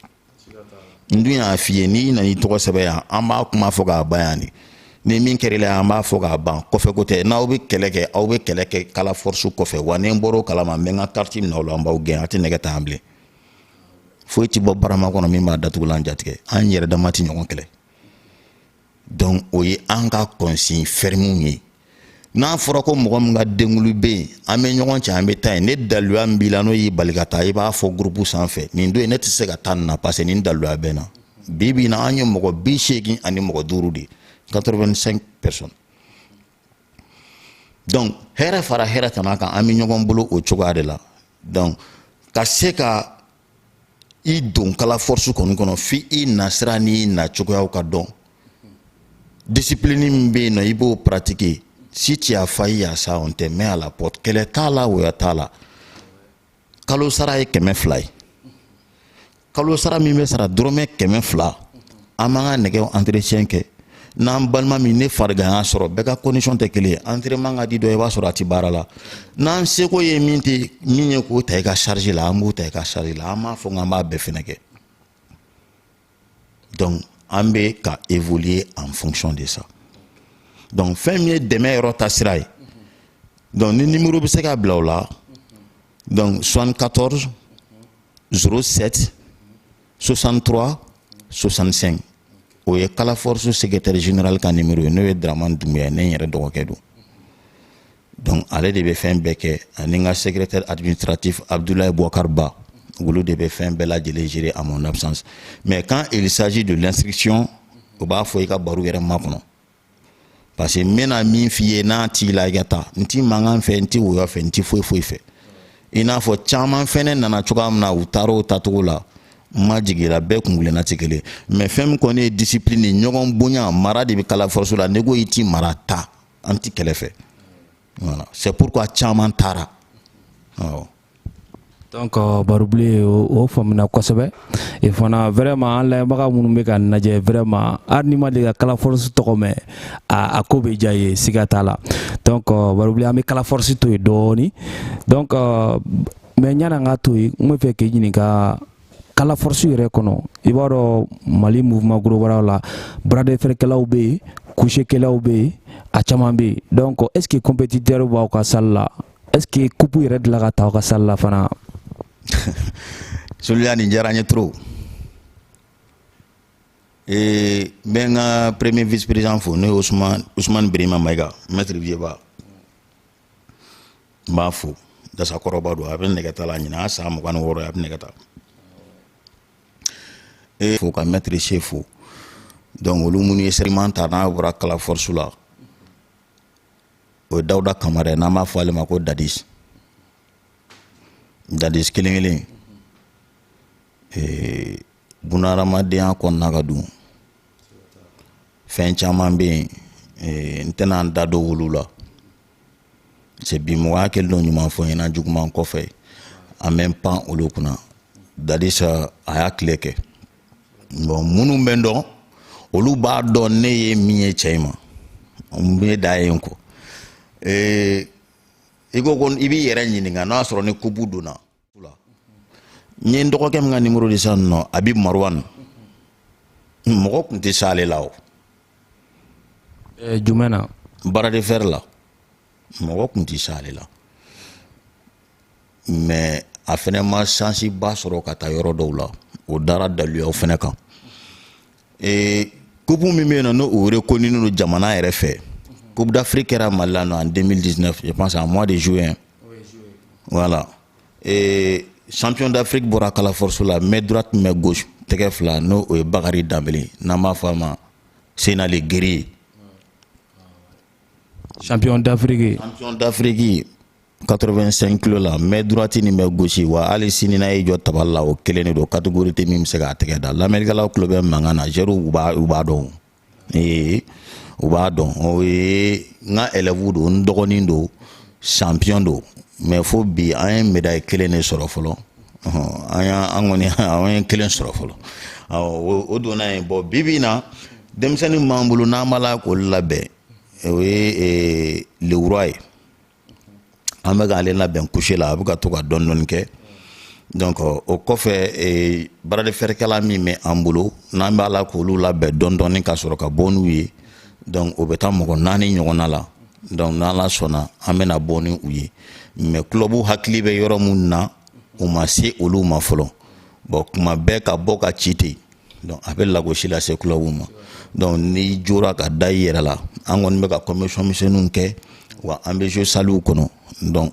n dun y'a f'i ye n'i nana i tɔgɔ sɛbɛn yan an b'a kuma fɔ k'a ban yan de ni min kɛr'i la an b'a fɔ k'a ban kɔfɛ ko tɛ n'aw bɛ kɛlɛ kɛ aw bɛ kɛlɛ kɛ kala force kɔfɛ wa ni n bɔr'o kalama n bɛ n ka carte minɛ aw la an b'aw gɛn a tɛ nɛgɛ ta yan bilen foyi tɛ bɔ barama kɔnɔ min b'a datugulan jatigɛ an yɛrɛ dama tɛ ɲɔgɔn kɛlɛ donc o ye an ka consignes fermes ye n'a fɔra ko mɔgɔ min ka denkunli bɛ yen an bɛ ɲɔgɔn cɛ an bɛ taa yen ni daluya min b'i la n'o y'i bali ka taa i b'a fɔ groupe sanfɛ nin don in ne tɛ se ka taa nin na parce que nin daluya bɛ n na bi bi in na an ye mɔgɔ bi seegin ani mɔgɔ duuru de ye 85 personnes donc hɛrɛ fara hɛrɛ tana kan an bɛ ɲɔgɔn bolo o cogoya de la donc ka se ka i don kala force kɔni kɔnɔ f'i i nasira n'i na cogoyaw ka dɔn discipline min bɛ yen nɔ i b'o pratiquer si tu as failli à ça on te met à la porte kɛlɛ t'a la woya t'a la kalo sara ye kɛmɛ fila ye kalo sara min bɛ sara dɔrɔmɛ kɛmɛ fila an b'an ka nɛgɛw entretien kɛ n'an balima min ni farigan y'a sɔrɔ bɛɛ ka condition tɛ kelen ye entraînement ka di dɔ i b'a sɔrɔ a tɛ baara la n'an seko ye min tɛ min ye k'o ta i ka charge la an b'o ta i ka charge la an m'a fɔ k'an b'a bɛɛ fɛnɛ kɛ donc an bɛ ka évoluer en fonction de ça donc fɛn min ye dɛmɛ yɔrɔ ta sira ye donc ni numéro bɛ se ka bila o la donc 74 07 63 65 o ye kala force secrétaire général ka numéro ye n'o ye Dramane Doumbouya ye ne yɛrɛ dɔgɔkɛ don donc ale de bɛ fɛn bɛɛ kɛ ani n ka secrétaire administratif Abdoulaye Bouakar Ba olu de bɛ fɛn bɛɛ lajɛlen gérer à mon absence mais quand il s'agit de l'instruction u b'a fɔ i ka Barou yɛrɛ makɔnɔ parce que n bɛna min f'i ye n'a t'i la i ka taa n ti mankan fɛ n ti woyɔ fɛ n ti foyi foyi fɛ i n'a fɔ caman fɛnɛ nana cogoya min na u taara o tacogo la n ma jigin la bɛɛ kungilenna tɛ kelen mais fɛn min kɔni ye disipilini ye ɲɔgɔn bonya mara de bɛ kala force la n'i ko i ti mara ta an ti kɛlɛ fɛ voilà c'est pourquoi caman taara awɔ Donc euh, barubilen o faamuna kosɛbɛ e fana vraiment an lamɛnbaga minnu bɛ k'an lajɛ vraiment hali n'i ma deli ka kala force tɔgɔ mɛn a a ko bɛ diya i ye siga t'a la donc euh, barubilen an bɛ kala force to yen dɔɔni donc euh, mais ɲani an ka to yen n bɛ fɛ k'i ɲininka kala force yɛrɛ kɔnɔ i b'a dɔn mali mouvement global la bras de fer kɛlaw bɛ yen couché kɛlaw bɛ yen a caman bɛ yen donc est ce que compétiteur b'aw ka salle la Est-ce que coupe yɛrɛ delila ka ta aw ka salle la fana Soliya nin diyara n ye trop ee n bɛ n ka premier vice président fo n'o ye Ousmane Ousmane Birima Mayiga maître vieux ba n b'a fo dasa kɔrɔba don a bɛ nɛgɛta la ɲinan a san mugan ni wɔɔrɔ ye a bɛ nɛgɛta e fo ka maître che fo donc olu minnu ye sɛriman ta n'a bɔra kala force la o ye dawuda kamara ye n'an b'a fɔ ale ma ko dadis dadis kelen kelen ee bunahadamadenya kɔnɔna ka dun fɛn caman bɛ yen ee n tɛna n da don olu la c'est bi mɔgɔya kɛlen don ɲuman fɔ i ɲɛna juguman kɔfɛ an bɛ n pan olu kunna dadis a y'a tile kɛ bon minnu bɛ n dɔn olu b'a dɔn ne ye min ye cɛ in ma n bɛ da yen kɔ ee i ko ko i b'i yɛrɛ ɲininka n'a sɔrɔ ni coupe donna n ye n dɔgɔkɛ min ka nimoro di sisan nɔ habib maruwan mɔgɔ tun tɛ s'ale la o jumɛn na bras de fer la mɔgɔ tun tɛ se ale la mais a fɛnɛ ma sansiba sɔrɔ ka taa yɔrɔ dɔw la o dara daluyaw fɛnɛ kan ee coupe min bɛ yen nɔ n'o o rekoninen don jamana yɛrɛ fɛ coupe d'afrique kɛra mali la nɔ en 2019 je pense en mois de juin voilà ee champion d'afrique bɔra kala force la main droite main gauche tɛgɛ fila n'o o ye bakari danbele n'an b'a fɔ a ma senale guerrier champion d'Afrique champion d'Afrique 85 kilo la main droite ni main gauche wa hali sini n'a y'i jɔ tabali la o kelen de don catégorie tɛ min bɛ se k'a tɛgɛ da lamɛnnikɛlaw tulo bɛ mankan na zɛriw u b'a u b'a dɔn ee u b'a dɔn o ye n ka élève don n dɔgɔnin don champion don mais fo bi an ye médaille kelen de sɔrɔ fɔlɔ an y'an an kɔni an ye kelen sɔrɔ fɔlɔ o donna yen bon bi bi in na denmisɛnnin min b'an bolo n'an b'a la k'olu labɛn o ye le roi ye an bɛ k'ale labɛn couché la a bɛ ka to ka dɔɔni dɔɔni kɛ donc o kɔfɛ bras de fer kɛla min bɛ an bolo n'an b'a la k'olu labɛn dɔɔni dɔɔni ka sɔrɔ ka bɔ n'u ye donc o bɛ taa mɔgɔ naani ɲɔgɔnna la donc n'ala sɔnna an bɛna bɔ ni u ye mais club hakili bɛ yɔrɔ minnu na u ma se olu ma fɔlɔ bon kuma bɛɛ ka bɔ ka ci ten donc a bɛ lagosi lase clubw ma donc n'i jɔra ka da i yɛrɛ la an kɔni bɛ ka commission misɛnninw kɛ wa an bɛ jɔ sallew kɔnɔ donc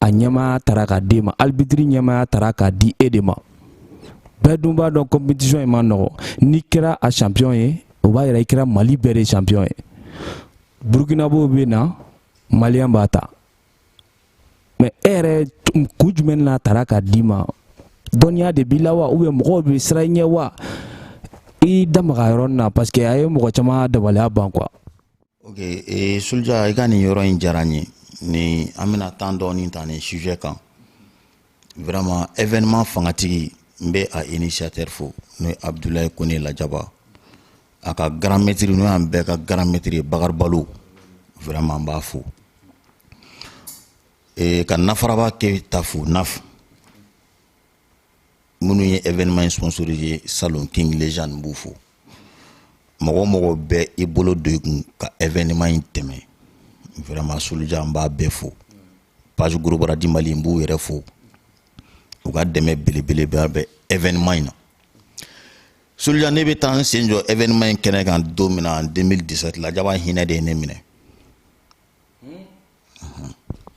a ɲɛmaaya tara k'a d'e ma arbitre ɲɛmaaya tara k'a di e de ma bɛɛ dun b'a dɔn compétition in man nɔgɔ n'i kɛra a champion ye o b'a yira i kɛra mali bɛɛ de champion ye burukinabow bɛ na maliyɛn b'a ta mais e yɛrɛ kun jumɛn na tara k'a d'i ma dɔnniya de b'i la wa ou bien mɔgɔw bɛ siran i ɲɛ wa i da maga yɔrɔ nin na parce que a ye mɔgɔ caman dabaliya ban quoi ok ee soluja i ka nin yɔrɔ in diyara n ye ni an bɛna temps dɔɔni ta nin sujet kan vraiment événement fangatigi n bɛ a initiateur fo n'o ye abudulayi kone lajaba a ka grand maître n'o y'an bɛɛ ka grand maître ye bakari balo vraiment n b'a fo ee ka nafaraba keyita fo naf minnu ye événement in sponsoriser salon king legend n b'u fo mɔgɔ o mɔgɔ bɛ i bolo don i kun ka événement in tɛmɛ vraiment soluja n b'a bɛɛ fo page gros bras du mali n b'u yɛrɛ fo u ka dɛmɛ belebeleba bɛ événement in na soluja ne bɛ taa n sen jɔ événement in kɛnɛ kan don min na 2017 lajaba hinɛ de ye ne minɛ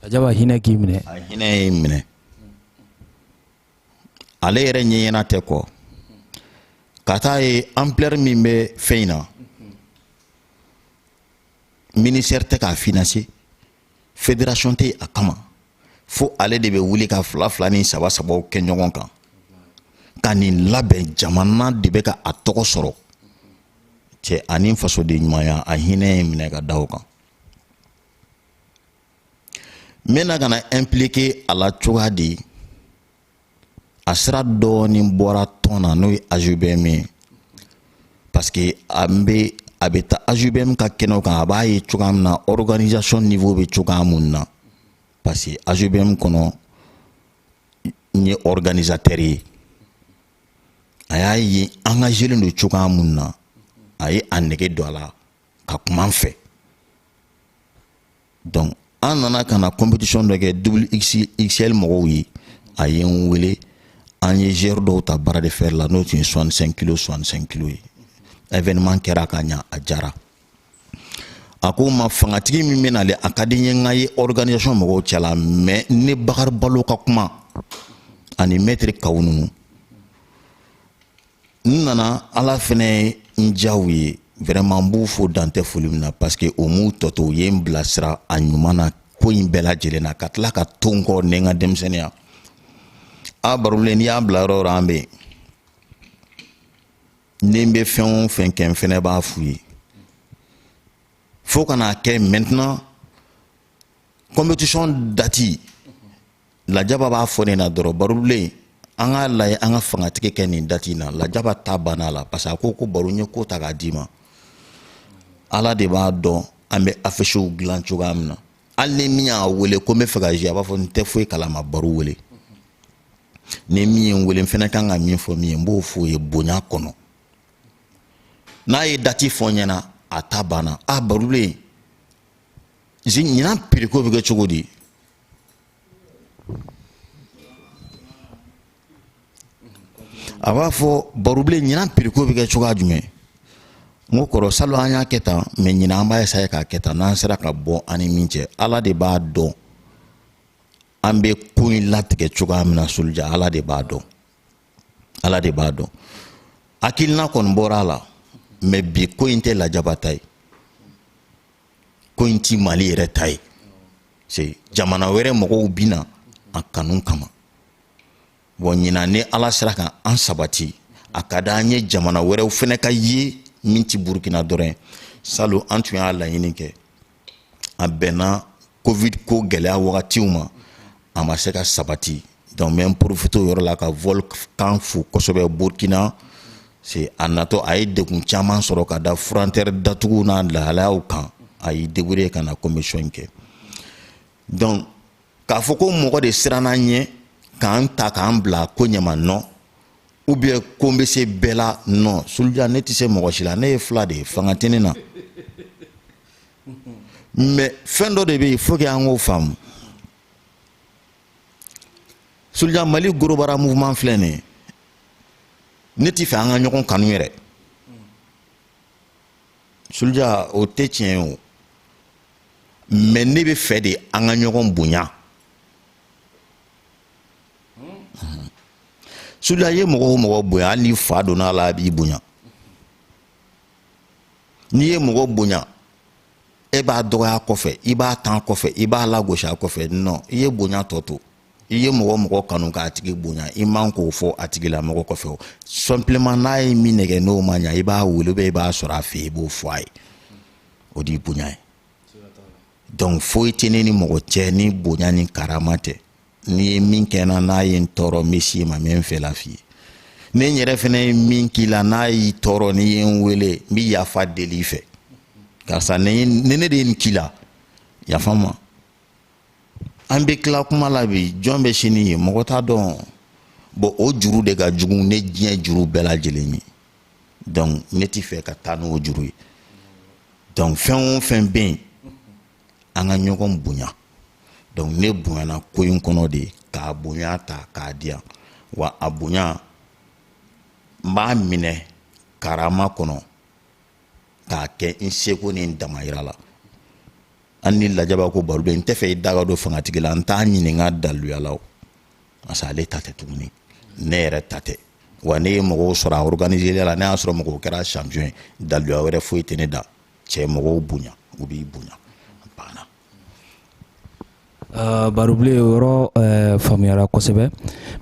lajaba hinɛ k'i minɛ a hinɛ ye n minɛ ale yɛrɛ ɲɛɲɛna tɛ kɔ ka taa ye ampleur min bɛ fɛn in na ministère tɛ k'a financer fédération tɛ yen a kama fo ale de bɛ wuli ka fila fila ni saba sabaw kɛ ɲɔgɔn kan ka nin labɛn jamana de bɛ ka a tɔgɔ sɔrɔ cɛ ani fasoden ɲumanya a hinɛ ye n minɛ ka da o kan n bɛna ka na impliquer a la cogoya di a sira dɔɔnin bɔra tɔn na n'o ye AJBM ye parce que a bɛ a bɛ taa AJBM ka kɛnɛw kan a b'a ye cogoya min na organisation niveau bɛ cogoya mun na parce que AJBM kɔnɔ n ye organisateur ye a y'a ye engagelen don cogoya mun na a ye a nege don a la ka kuma an fɛ donc an nana ka na compétition dɔ kɛ double xl mɔgɔw ye a ye n wele an ye gere dɔw ta bras de fer la n'o tun ye 65 kilo 65 kilo ye événement kɛra ka ɲa a jara a ko ma fangatigi min bɛ nale a ka di n ye n ka ye organisation mɔgɔw cɛla mais ne bakari balo ka kuma ani mɛtiri kawu ninnu n nana ala fɛnɛ ye n diya u ye vraiment n b'u fo dan tɛ foli min na parce que o m'u tɔ to u ye n bilasira a ɲuman na ko in bɛɛ lajɛlen na ka tila ka to n kɔ ni n ka denmisɛnniya a barobilen n'i y'a bila yɔrɔ o yɔrɔ an bɛ yen ni n bɛ fɛn o fɛn kɛ n fɛnɛ b'a f'u ye fo ka n'a kɛ maintenant compétition dati lajaba b'a fɔ ne na dɔrɔn barobilen an k'a lajɛ an ka fangatigi kɛ nin dati in na lajaba ta banna a la parce que a ko ko baro n ye ko ta k'a d'i ma ala de b'a dɔn an bɛ afisiw dilan cogoya min na hali ni min y'a wele ko n bɛ fɛ ka jouer a b'a fɔ n tɛ foyi kalama baro wele ni min ye n wele n fɛnɛ kan ka min fɔ min ye n b'o fɔ o ye bonya kɔnɔ n'a ye dati fɔ n ɲɛna a ta banna a barobilen ɲinan prix ko bɛ kɛ cogo di a b'a fɔ barobilen ɲinan prix ko bɛ kɛ cogoya jumɛn n ko kɔrɔ salon an y'a kɛ tan mais ɲinan an b'a essayer k'a kɛ tan n'an sera ka bɔ an ni min cɛ ala de b'a dɔn an bɛ ko in latigɛ cogoya min na soldier ala de b'a dɔn ala de b'a dɔn hakilina kɔni bɔra a la mais bi ko in tɛ lajaba ta ye ko in ti mali yɛrɛ ta ye c'est jamana wɛrɛ mɔgɔw bi na a kanu kama bon ɲinan ni ala sera ka an sabati a ka d'an ye jamana wɛrɛw fɛnɛ ka ye min ti burukina dɔrɔn salon an tun y'a laɲini kɛ a bɛnna covid ko gɛlɛya wagatiw ma a ma se ka sabati Donc n bɛ profiter o yɔrɔ la ka Volcan fo kosɛbɛ Burkina c'est a natɔ a ye degun caman sɔrɔ ka da frontière datugu n'a lahalayaw kan a y'i débrouiller ka na compétition in kɛ donc k'a fɔ ko mɔgɔ de siranna n ɲɛ ka n ta ka n bila ko ɲama non ou bien ko n bɛ se bɛɛ la non Soldier ne tɛ se mɔgɔ si la ne ye fila de ye fanga tɛ ne na mais fɛn dɔ de bɛ yen faut que an k'o faamu soldier mali gorobara mouvement filɛ nin ye ne t'i fɛ an ka ɲɔgɔn kanu yɛrɛ soldier o tɛ tiɲɛ ye o mais ne bɛ fɛ de an ka ɲɔgɔn bonya soldier i ye mɔgɔ o mɔgɔ bonya hali ni fa donna a la a b'i bonya n'i ye mɔgɔ bonya e b'a dɔgɔya kɔfɛ i b'a tan kɔfɛ i b'a lagosi a kɔfɛ non i ye bonya tɔ to i ye mɔgɔ o mɔgɔ kanu k'a tigi bonya i man k'o fɔ a tigi la mɔgɔ kɔfɛ o simplement n'a ye min nɛgɛ n'o ma ɲa i b'a wele bɛ i b'a sɔrɔ a fɛ i b'o fɔ a ye o de ye bonya ye donc foyi tɛ ne ni mɔgɔ cɛ ni bonya ni karama tɛ n'i ye min kɛ n na n'a ye n tɔɔrɔ n bɛ s'i ma n bɛ n fɛla f'i ye ne n yɛrɛ fana ye min k'i la n'a y'i tɔɔrɔ n'i ye n wele n bɛ yafa deli i fɛ karisa ni ne de ye nin k'i la yafa n ma an bɛ tila kuma la bi jɔn bɛ sini ye mɔgɔ t'a dɔn bon o juru de ka jugu ni diɲɛ juru bɛɛ lajɛlen ye donc ne t'i fɛ ka taa n'o juru ye donc fɛn o fɛn bɛ yen an ka ɲɔgɔn bonya donc ne bonyana ko in kɔnɔ de k'a bonya ta k'a di yan wa a bonya n b'a minɛ karama kɔnɔ k'a kɛ n seko ni n damayira la hali ni lajaba ko barobilen n tɛ fɛ i da ka don fangatigi la n t'a ɲininka daluya la o parce que ale ta tɛ tuguni ne yɛrɛ ta tɛ wa ne ye mɔgɔw sɔrɔ a organiseli la ne y'a sɔrɔ mɔgɔw kɛra champion ye daluya wɛrɛ foyi tɛ ne da cɛ mɔgɔw bonya u b'i bonya banna Uh, barobilen o yɔrɔ uh, faamuyara kosɛbɛ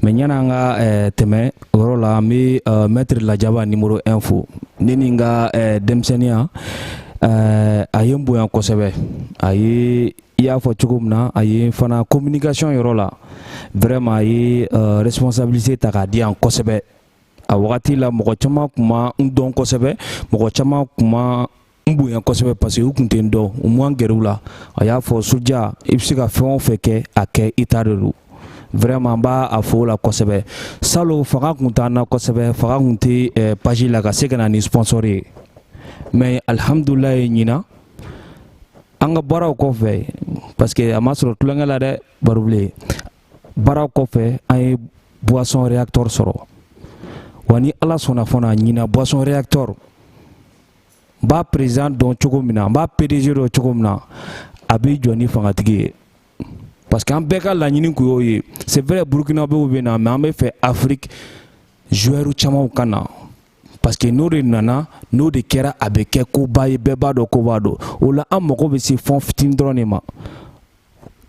mais yani an ka uh, tɛmɛ yɔrɔ la an bɛ uh, maître lajaba numéro 1 fo ne ni n ka uh, denmisɛnninya uh, a ye n bonya kosɛbɛ a ye i y'a fɔ cogo min na a ye fana communication yɔrɔ la vraiment a ye uh, responsabilité ta k'a di yan kosɛbɛ a wagati la mɔgɔ caman tun ma n dɔn kosɛbɛ mɔgɔ caman tun ma n bonya kosɛbɛ parce que u tun tɛ n dɔn n ma n gɛrɛ u la a y'a fɔ soldier i bɛ se ka fɛn o fɛn kɛ a kɛ i ta de don vraiment n b'a fo o la kosɛbɛ salon fanga tun t'an na kosɛbɛ fanga tun tɛ eh, page la ka se ka na ni sponsor ye mais alhamdulilayi ɲinan an ka baaraw kɔfɛ parce que a ma sɔrɔ tulonkɛ la dɛ barobilen baara kɔfɛ an ye boisson réacteur sɔrɔ wa ni ala sɔnna fana ɲinan boisson réacteur n b'a président dɔn cogo min na n b'a pdg dɔn cogo min na a b'i jɔ ni fangatigi ye parce que an bɛɛ ka laɲini kun y'o ye c'est vrai burkinabew bɛ na mais an bɛ fɛ afrique joueur camanw ka na parce que n'o de nana n'o de kɛra a bɛ kɛ koba ye bɛɛ b'a dɔn koba don o la an mago bɛ se fɛn fitini dɔrɔn de ma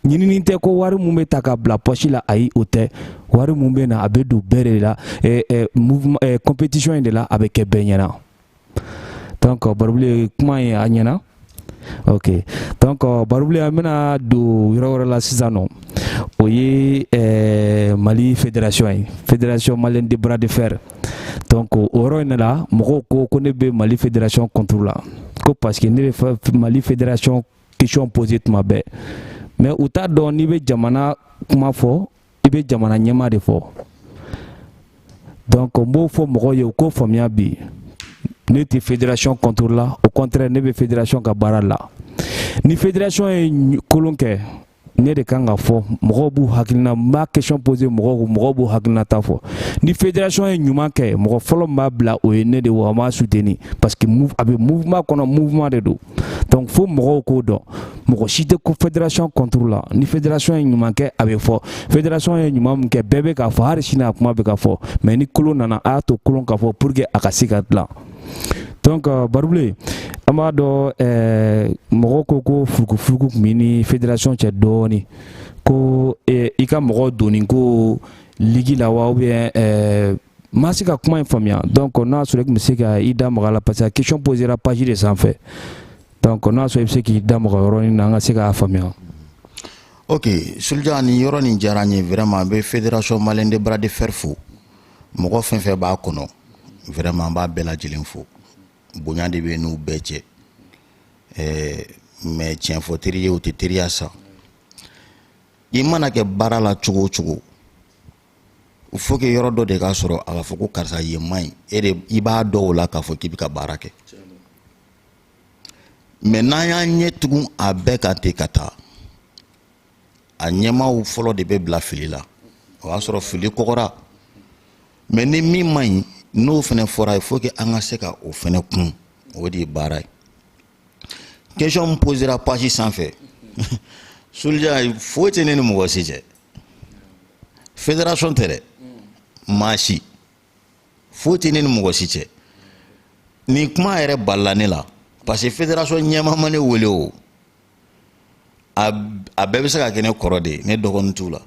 ɲinini tɛ ko wari mun bɛ ta ka bila pɔsi la ayi o tɛ wari mun bɛ na a bɛ don bɛɛ de la eh, eh, mouvement eh, compétition in de la a bɛ kɛ bɛɛ ɲɛna donc barobile ye kuma ye a ɲɛna ok donc barobile an bɛna don yɔrɔ wɛrɛ la sisan n'o ye eh, mali fédération ye fédération malienne de bras de fer donc o yɔrɔ in de la mɔgɔw ko ko ne bɛ mali fédération contre la ko parce que ne bɛ mali fédération question poser tuma bɛɛ mais u t'a dɔn n'i bɛ jamana kuma fɔ i bɛ jamana ɲɛma de fɔ donc n b'o fɔ mɔgɔw ye u k'o faamuya bi ne tɛ fédération contre la au contraire ne bɛ fédération ka baara la ni fédération ye kolon kɛ ne de kan ka fɔ mɔgɔw b'u hakilina n b'a question poser mɔgɔw kun mɔgɔw b'u hakilinata fɔ ni fédération ye ɲuman kɛ mɔgɔ fɔlɔ min b'a bila o ye ne de wa an b'a soutenir parce que a bɛ mouvement kɔnɔ mouvement de don donc fo mɔgɔw k'o dɔn mɔgɔ si tɛ ko fédération contre la ni fédération ye ɲuman kɛ a bɛ fɔ fédération ye ɲuman min kɛ bɛɛ bɛ k'a fɔ hali sini a kuma bɛ ka fɔ mais ni kolon nana a y'a to kolon ka fɔ pour que a ka se ka dilan donc barobile an b'a dɔn eh, mɔgɔw ko ko furukufuruku tun b'i ni fédération cɛ dɔɔni ko eh, i ka mɔgɔ donni ko ligi la wa ou bien eh, ma se ka kuma in faamuya donc n'a sɔrɔ i tun bɛ se ka i da maga a la parce que question posera page de sanfɛ donc n'a sɔrɔ i bɛ se k'i da maga yɔrɔnin na an ka se k'a faamuya. ok sulja nin yɔrɔ nin diyara n ye vraiment n bɛ fédération malienne de bras de fer fo. mɔgɔ fɛn fɛn b'a kɔnɔ vraiment n b'a bɛɛ lajɛlen fo bonya de bɛ n'u bɛɛ cɛ ɛɛ mais tiɲɛ fɔ teri ye o tɛ teriya sa i mana kɛ baara la cogo o cogo il faut que yɔrɔ dɔ de ka sɔrɔ a ka fɔ ko karisa yen man ɲi e de i b'a dɔn o la k'a fɔ k'i bɛ ka baara kɛ mais n'an y'an ɲɛ tugun a bɛɛ kan ten ka taa a ɲɛmaaw fɔlɔ de bɛ bila fili la o y'a sɔrɔ fili kɔgɔra mais ni min man ɲi n'o fana fɔra il faut que an ka se ka o fana kun o de ye baara ye question min posera page sanfɛ sulja foyi tɛ ne ni mɔgɔ si cɛ fédération tɛ dɛ maa si foyi tɛ ne ni mɔgɔ si cɛ nin kuma yɛrɛ balila ne la parce que fédération ɲɛmaa ma ne wele o a bɛɛ bɛ se ka kɛ ne kɔrɔ de ye ne dɔgɔnin t'u la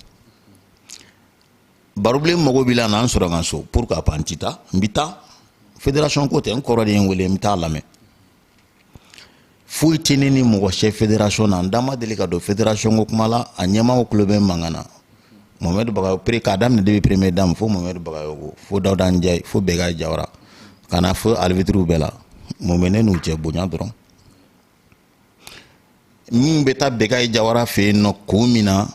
barobilen mago b'i la na n sɔrɔ n ka so pourquoi pas n ti taa n bɛ taa fédération ko tɛ n kɔrɔ de ye n wele n bɛ taa a lamɛn foyi tɛ ne ni mɔgɔ cɛ fédération na n da ma deli ka don fédération ko kuma la a ɲɛmaaw tulo bɛ mankan na mohamɛdi bagayogo k'a daminɛ depuis première dame fo mohamɛdi bagayogo fo dawuda njayi fo bɛga jawara ka na fo alibitiriw bɛɛ la mun bɛ ne n'u cɛ bonya dɔrɔn min bɛ taa bekayi jawara fɛ yen nɔ ko min na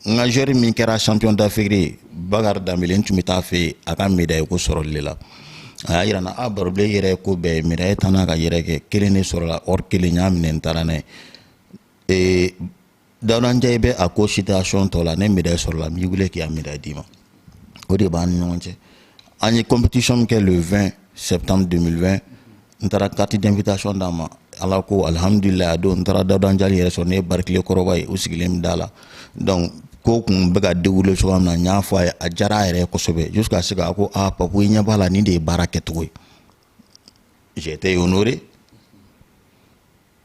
n ka joueur min kɛra champion d'afrique ye bakari danbele n tun bɛ taa fɛ yen a ka médaille ko sɔrɔli de la a y'a yira n na a barobilen yɛrɛ ko bɛɛ ye médaille tan n'a ka yɛrɛ kɛ kelen de sɔrɔla or kelen n y'a minɛ n taara n'a ye dawuda njayi bɛ a ko situation tɔ la ne médaille sɔrɔla n b'i wele k'i ka médaille d'i ma o de b'an ni ɲɔgɔn cɛ an ye compétition min kɛ le 20 septembre 2020 n taara carte d'invitation d'a ma ala ko alhamdulilayi a don n taara dawuda njayi yɛrɛ sɔrɔ ne ye barikile kɔrɔba ye u sigilen bɛ da la donc ko tun bɛ ka dérouler cogoya min na n y'a fɔ a ye a diyara a yɛrɛ ye kosɛbɛ jusqu'à ce que a ko a papu i ɲɛ b'a la nin de ye baara kɛcogo ye j'étais honoré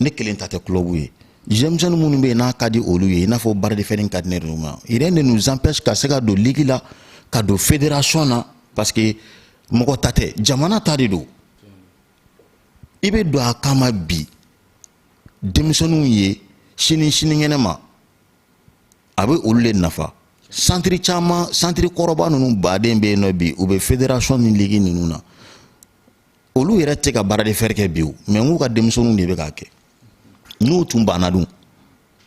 ne kelen ta tɛ kulɔbu ye denmisɛnnin minnu bɛ yen n'a ka di olu ye i n'a fɔ bras de fer in ka di ne yɛrɛ ma rien ne nous empêche ka se ka don ligi la ka don fédération na parce que mɔgɔ ta tɛ jamana ta de don i bɛ don a kama bi denmisɛnninw ye sini sinikɛnɛ ma a bɛ olu de nafa santiri caman santiri kɔrɔba ninnu baden bɛ yen nɔ bi u bɛ fédération ni ligi ninnu na olu yɛrɛ tɛ ka bras de fer kɛ bi o mais n k'u ka denmisɛnninw de bɛ k'a kɛ n'u tun banna dun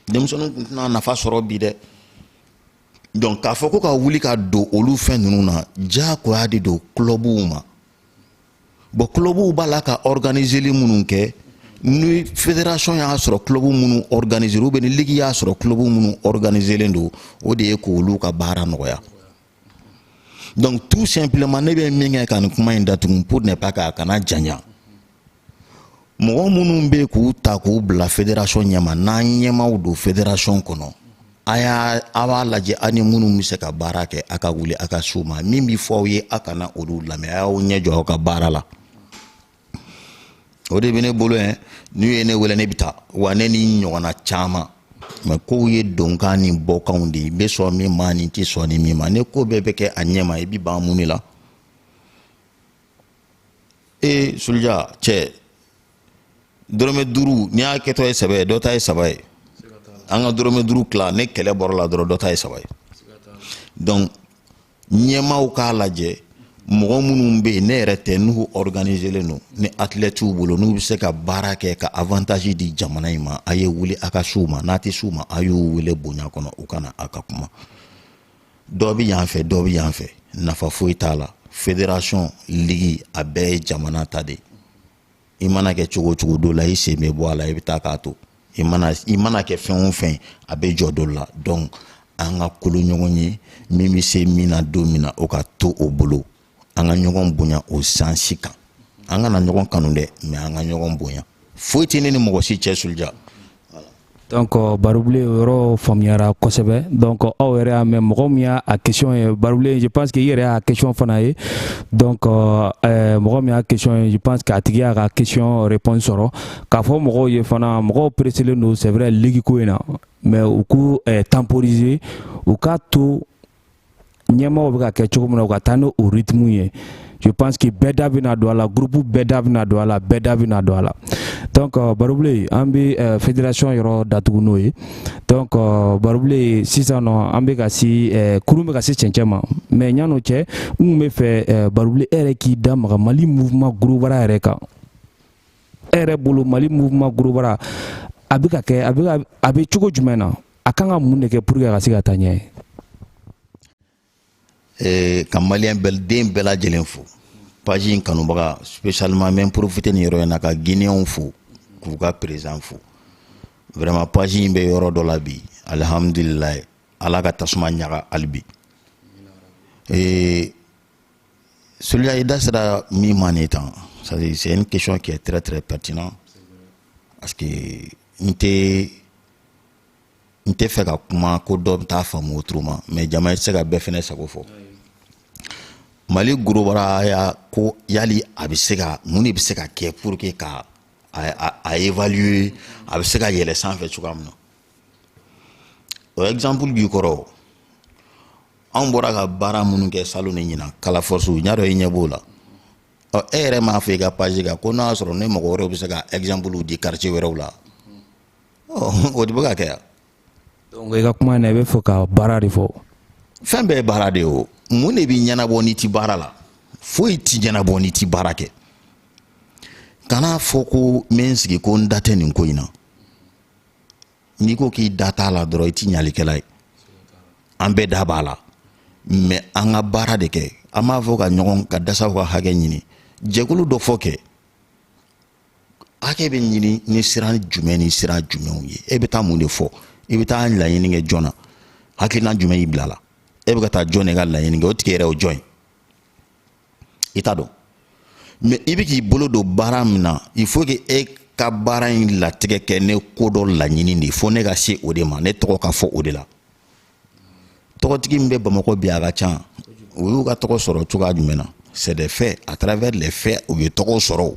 denmisɛnninw tun tɛna nafa sɔrɔ bi dɛ donc k'a fɔ ko ka wuli ka don olu fɛn ninnu na diyagoya de don kulɔbuw ma bon kulɔbuw b'a la ka ɔrganizeli minnu kɛ ni fédération y'a sɔrɔ kulɔbu minnu ɔrganizelen ou bien ni ligi y'a sɔrɔ kulɔbu minnu ɔrganizelen don o de ye k'olu ka baara nɔgɔya donc tout simplement ne bɛ min kɛ ka nin kuma in datugu pour ne pas k'a kana janya mɔgɔ minnu bɛ k'u ta k'u bila fédération ɲɛma n'an ɲɛmaw don fédération kɔnɔ a y'a a b'a lajɛ aw ni minnu bɛ se ka baara kɛ a ka wuli a ka s'u ma min bɛ fɔ aw ye a kana olu lamɛn a y'aw ɲɛ jɔ aw ka baara la o de bɛ ne bolo yan n'u ye ne wele ne bɛ taa wa ne ni ɲɔgɔnna caman mais kow ye donkan ni bɔkanw de ye i bɛ sɔn min ma n'i tɛ sɔn ni min ma ne ko bɛɛ bɛ kɛ a ɲɛma i bɛ ban mun de la ee suluja cɛ dɔrɔmɛ duuru n'i y'a kɛtɔ ye saba ye dɔ ta ye saba ye an ka dɔrɔmɛ duuru tila ne kɛlɛ bɔra la dɔrɔn dɔ ta ye saba ye donc ɲɛmaaw k'a lajɛ mɔgɔ minnu bɛ yen ne yɛrɛ tɛ n'u organiselen don ni athlètes bolo n'u bɛ se ka baara kɛ ka avantage di jamana in ma a ye wuli a ka s'u ma n'a tɛ s'u ma a y'u wele bonya kɔnɔ u ka na a ka kuma dɔ bɛ yan fɛ dɔ bɛ yan fɛ nafa foyi t'a la fédération ligi a bɛɛ ye jamana ta de ye i mana kɛ cogo cogo dɔ la i sen bɛ bɔ a la i bɛ taa k'a to i mana i mana kɛ fɛn o fɛn a bɛ jɔ dɔ la donc an ka kolo ɲɔgɔn ye min bɛ se min na don min na o ka to o bolo an ka ɲɔgɔn bonya o sansi kan an kana ɲɔgɔn kanu dɛ mais an ka ɲɔgɔn bonya foyi tɛ ne ni mɔgɔ si cɛ sulja Donc barubile yɔrɔ faamuyara kosɛbɛ donc aw yɛrɛ y'a mɛn mɔgɔ min y'a question ye barubile je pense que i yɛrɛ y'a question fana ye donc ɛɛ mɔgɔ min y'a question ye je pense que a tigi y'a ka question réponse sɔrɔ k'a fɔ mɔgɔw ye fana mɔgɔw pereselen don c'est vrai ligue ko in na mais u k'u temporiser u k'a to ɲɛmaaw bɛ ka kɛ cogo min na u ka taa n'o rythme ye je pense que bɛɛ da bɛna don a la groupe bɛɛ da bɛna don a la bɛɛ da bɛna don a la donc euh, barubile an bɛ euh, fédération yɔrɔ datugu n'o ye donc euh, barubile sisan nɔ an bɛ ka se kurun bɛ ka se cɛncɛn ma mais ɲan'o cɛ n kun bɛ fɛ barubile e yɛrɛ k'i da maga mali mouvement gorobara yɛrɛ kan e yɛrɛ bolo mali mouvement gorobara a bɛ ka kɛ a bɛ cogo jumɛn na a kan ka mun de kɛ pour que a ka se ka taa ɲɛ ye eh, ka maliyɛn den bɛɛ lajɛlen fo page in kanubaga spécialement n bɛ profiter nin yɔrɔ in na ka guinéenw fo k'u ka président fo vraiment page in bɛ yɔrɔ dɔ la bi alihamudulilayi ala ka tasuma ɲaga hali bi eh, sulja i da sera min ma nin tan c'est une question qui est très très pertinente parce que n tɛ n tɛ fɛ ka kuma ko dɔ bɛ taa faamu autrement mais jama i tɛ se ka bɛɛ fɛnɛ sago fɔ mali gorobaraya ko yali a bɛ se ka mun de bɛ se ka kɛ pour que ka a évaluer a bɛ se ka yɛlɛ sanfɛ cogoya min na o exemple b'i kɔrɔ anw bɔra ka baara minnu kɛ salon ni ɲinan kala force n y'a dɔn i ɲɛ b'o la ɔ e yɛrɛ m'a fɔ i ka page kan ko n'a y'a sɔrɔ ne mɔgɔ wɛrɛw bɛ se ka exemple di quartier wɛrɛw la o de bɛ ka kɛ yan donc i ka kuma na i bɛ fɛ ka baara de fɔ fɛn bɛɛ ye baara de ye o mun de bɛ ɲɛnabɔ n'i ti baara la foyi ti ɲɛnabɔ n'i ti baara kɛ kana fɔ ko n bɛ n sigi ko n da tɛ nin ko in na n'i ko k'i da t'a la dɔrɔn i ti ɲalikɛla ye an bɛɛ da b'a la mais an ka baara de kɛ an b'a fɔ ka ɲɔgɔn ka dasaw ka hakɛ ɲini jɛkulu dɔ fɔ kɛ hakɛ bɛ ɲini ni sira jumɛn ni sira jumɛnw ye e bɛ taa mun de fɔ i bɛ taa laɲini kɛ jɔn na hakilina jumɛn y'i bila la e bɛ ka taa jɔn de ka laɲini kɛ o tigi yɛrɛ o jɔn ye i t'a dɔn mais i bɛ k'i bolo don baara min na il faut que e ka baara in latigɛ kɛ ne ko dɔ laɲini de fo ne ka se o de ma ne tɔgɔ ka fɔ o de la tɔgɔtigi min bɛ bamakɔ bi a ka ca u y'u ka tɔgɔ sɔrɔ cogoya jumɛn na c'est des faits à travers les faits u ye tɔgɔw sɔrɔ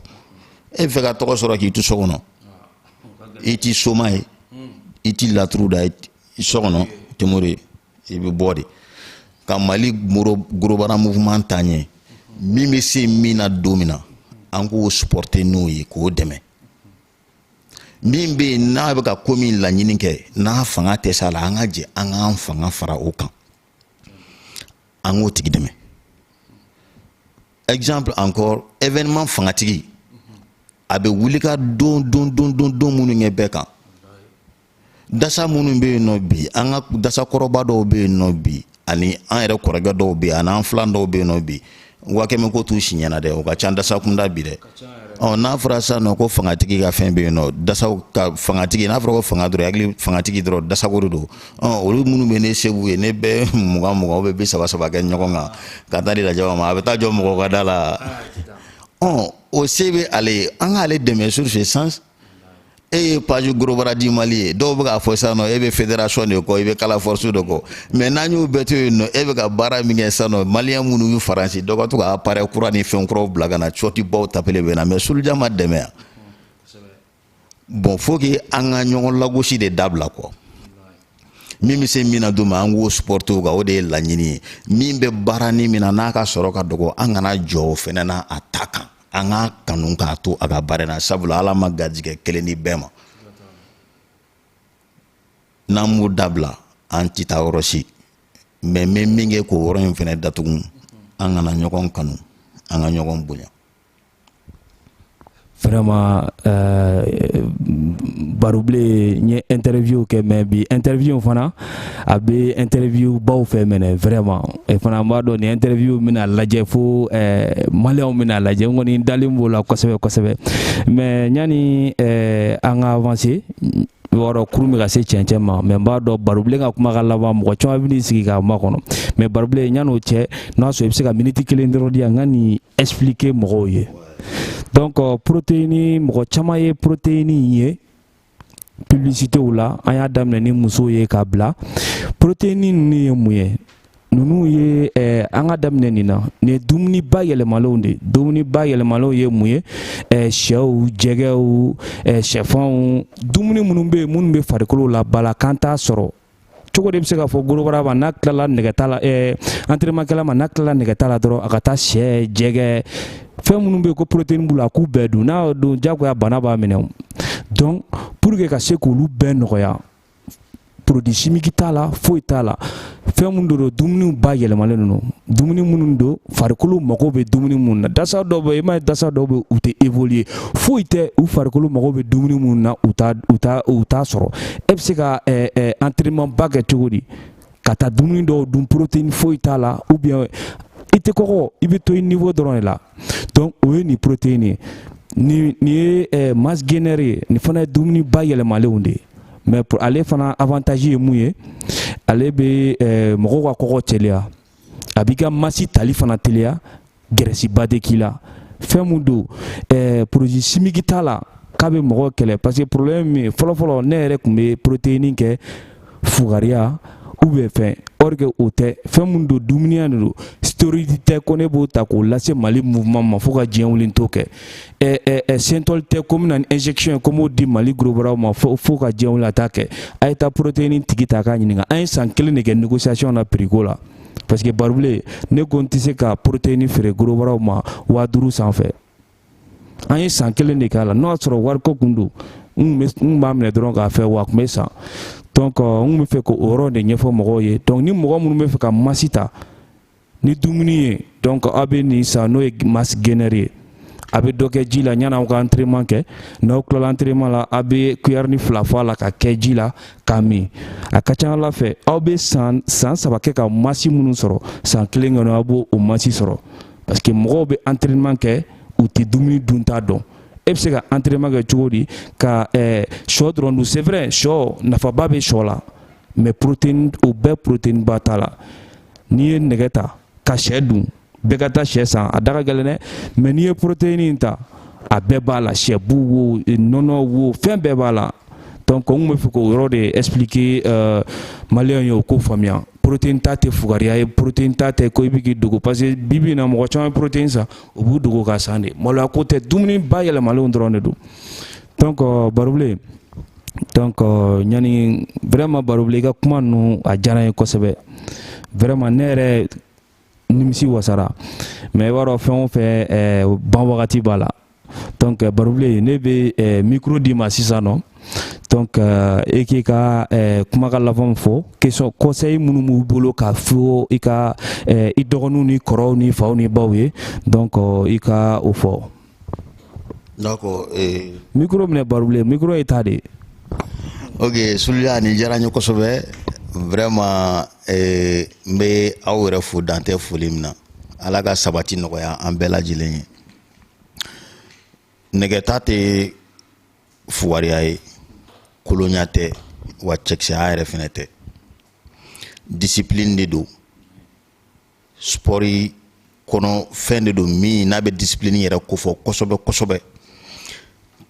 e bɛ fɛ ka tɔgɔ sɔrɔ k'i to so kɔnɔ i ti soma ye i ti laturu da so kɔnɔ tɛ mori ye i bɛ bɔ de ka mali gros bras mouvement taa ɲɛ min bɛ se min na don min na an k'o supporter n'o ye k'o dɛmɛ min bɛ yen n'a bɛ ka ko min laɲini kɛ n'a fanga tɛ s'a la an ka jɛ an k'an fanga fara o kan an k'o tigi dɛmɛ exemple encore événement fangatigi a bɛ wuli ka don don don don don minnu kɛ bɛɛ kan dasa minnu bɛ yen nɔ bi an ka dasa kɔrɔba dɔw bɛ yen nɔ bi ani an yɛrɛ kɔrɔkɛ dɔw bɛ yen ani an filan dɔw bɛ yen nɔ bi waa kɛmɛ ko t'u si ɲɛna dɛ o ka ca dasa kunda bi dɛ ɔ n'a fɔra sisan nɔ ko fangatigi ka fɛn bɛ yen nɔ dasaw ka fangatigi n'a fɔra ko fanga dɔrɔn hakili fangatigi dɔrɔn dasako de don ɔ olu minnu bɛ ni se b'u ye ni bɛɛ mugan mugan bɛɛ bi saba saba kɛ ɲɔgɔn kan ka taa di laji ma a bɛ taa jɔ mɔgɔ ka da la ɔ o se bɛ ale ye an k'ale dɛmɛ sur ce sens e ye page gros bras du mali ye dɔw bɛ k'a fɔ sisan nɔ e bɛ fédération de kɔ i bɛ kala force de kɔ mais n'an y'o bɛɛ to yen nɔ e bɛ ka baara min kɛ sisan nɔ maliyɛn minnu bɛ faransi dɔ ka to ka appareil kura ni fɛn kuraw bila ka na cɔti baw tapele bɛ na mais suluja ma dɛmɛ yan bon faut que an ka ɲɔgɔn lagosi de dabila quoi min bɛ se min na don ma an k'o supporter o kan o de ye laɲini ye min bɛ baara ni min na n'a ka sɔrɔ ka dɔgɔ an kana jɔ o fɛnɛ na a ta kan an k'a kanu k'a to a ka baara na sabula ala ma garijɛgɛ kelen di bɛɛ ma n'an m'o dabila an tɛ taa yɔrɔ si mais n bɛ min kɛ k'o yɔrɔ in fɛnɛ datugu an ka na ɲɔgɔn kanu an ka ɲɔgɔn bonya vraiment euh, barubilen n ye interview kɛ mais bi interview fana a bɛ interview baw fɛ mais ne vraiment e fana b'a dɔn nin interview bɛna lajɛ fo ɛɛ maliyɛnw bɛna lajɛ n kɔni dalen b'o la kosɛbɛ kosɛbɛ mais yanni ɛɛ an ka avancer baro kurun bɛ ka se cɛncɛn ma mais n b'a dɔn barobilen ka kuma ka laban mɔgɔ caman bɛn'i sigi k'a makɔnɔ mais barobilen yann'o cɛ n'a sɔrɔ i bɛ se ka miniti kelen dɔrɔn di yan n ka nin expliquer mɔgɔw ye donc protéine mɔgɔ caman ye protéine ye publicitéw la an y'a daminɛ ni musow ye k'a bila protéine ninnu ye mun ye ninnu ye eh, an ka daminɛ nin na nin ye dumuni bayɛlɛmalenw de dumuni bayɛlɛmalenw ye mun ye eh, sɛw jɛgɛw eh, sɛfanw dumuni minnu bɛ yen minnu bɛ farikolo labalo k'an t'a sɔrɔ cogo de bɛ se k'a fɔ gorobara ma n'a tilala nɛgɛta la ɛɛ entraînement kɛla ma n'a tilala nɛgɛta la dɔrɔn a ka taa sɛ jɛgɛ fɛn minnu bɛ yen ko protéine b'u la a k'u bɛɛ dun n'a y'o dun jagoya bana b'a minɛ o donc pour que ka se k'olu bɛɛ nɔgɔya produit chimique t'a la foyi t'a la fɛn minnu don dumuniw bayɛlɛmalen don dumuni minnu don farikolo mago bɛ dumuni minnu na dasa dɔw bɛ i m'a ye dasa dɔw bɛ u tɛ évoluer foyi tɛ u farikolo mago bɛ dumuni minnu na u t'a u t'a u t'a sɔrɔ e bɛ se ka ɛɛ ɛɛ entraînement ba kɛ cogo di ka taa dumuni dɔw dun protéine foyi t'a la ou bien i tɛ kɔgɔ i bɛ to i niveau dɔrɔn de la donc o ye nin protéine ye nin nin ye ɛɛ masse gaineur ye nin fana ye dumuni bayɛlɛmalenw de ye mais pour ale fana avantage ye mun ye ale bɛ ɛɛ mɔgɔw ka kɔgɔ teliya. a b'i ka masse tali fana teliya gɛrɛsiba tɛ k'i la fɛn min don eh, produit chimique t'a la k'a bɛ mɔgɔw kɛlɛ parce que problème min ye fɔlɔfɔlɔ ne yɛrɛ tun bɛ protéine kɛ fugariya ou bien fɛn or que o tɛ fɛn min don dumuniya de don stéroïde tɛ ko ne b'o ta k'o lase mali mouvement ma fo ka diɲɛ wuli n t'o kɛ synthol tɛ ko min ye injection ye ko n b'o di mali gorobaraw ma fo ka diɲɛ wuli n t'a kɛ a ye taa protéine tigi ta k'a ɲininka an ye san kelen de kɛ négociation na prix ko la parce que barobilen ne ko n tɛ se ka protéine feere gorobaraw ma waa duuru sanfɛ an ye san kelen de k'a la n'o y'a sɔrɔ wariko tun don n b'a minɛ dɔrɔn k'a feere a tun bɛ san donc n bɛ fɛ k'o yɔrɔ de ɲɛfɔ mɔgɔw ye donc ni mɔgɔ minnu bɛ fɛ ka masse ta ni dumuni ye donc aw bɛ nin san n'o ye masse gaineur ye a bɛ dɔ kɛ ji la ɲani aw ka entraînement kɛ n'aw tilala entraînement la aw bɛ cuillère ni fila bɔ a la ka kɛ ji la k'a min a ka ca ala fɛ aw bɛ san san saba kɛ ka masse minnu sɔrɔ san kelen kɔnɔ aw b'o o masse sɔrɔ parce que mɔgɔw bɛ entraînement kɛ u tɛ dumuni dunta dɔn e bɛ se ka entraînement kɛ cogo di ka eh, sɔ dɔrɔn dun c'est vrai sɔ nafaba bɛ sɔ la mais protéine o bɛɛ protéine ba t'a la n'i ye nɛgɛ ta ka sɛ dun bɛɛ ka taa sɛ san a da ka gɛlɛn dɛ mais n'i ye protéine in ta a bɛɛ b'a la sɛ bu wo nɔnɔ wo fɛn bɛɛ b'a la donc n bɛ fɛ k'o yɔrɔ de expliquer euh, maliyɛnw ye u k'o faamuya protéine ta tɛ fugariya ye protéine ta tɛ ko i bɛ k'i dogo parce que bi bi in na mɔgɔ caman ye protéine san u b'u dogo k'a san de maloya ko tɛ dumuni bayɛlɛmalenw dɔrɔn de don donc euh, barobilen donc euh, ɲani vraiment barobilen i ka kuma ninnu a diyara n ye kosɛbɛ vraiment ne yɛrɛ nimisi wasara mais i b'a dɔn fɛn o fɛn eh, ban wagati b'a la donc euh, barobilen ne bɛ eh, micro d'i ma sisan nɔ donc euh, e k'i ka eh, kumakan labanw fɔ question conseil minnu b'u bolo k'a fɔ i ka eh, i dɔgɔninw ni kɔrɔw ni faw ni baw ye donc euh, i ka o fɔ Micro minɛ barobilen micro ye ta de ye ok solija nin diyara n ye kosɛbɛ vraiment n bɛ aw yɛrɛ fo dan tɛ foli min na ala ka sabati nɔgɔya an bɛɛ lajɛlen ye nɛgɛta tɛ fugariya ye kolonya tɛ wa cɛkisɛya yɛrɛ fɛnɛ tɛ discipline de don spɔri kɔnɔ fɛn de don min n'a bɛ disipilini yɛrɛ kofɔ kosɛbɛ kosɛbɛ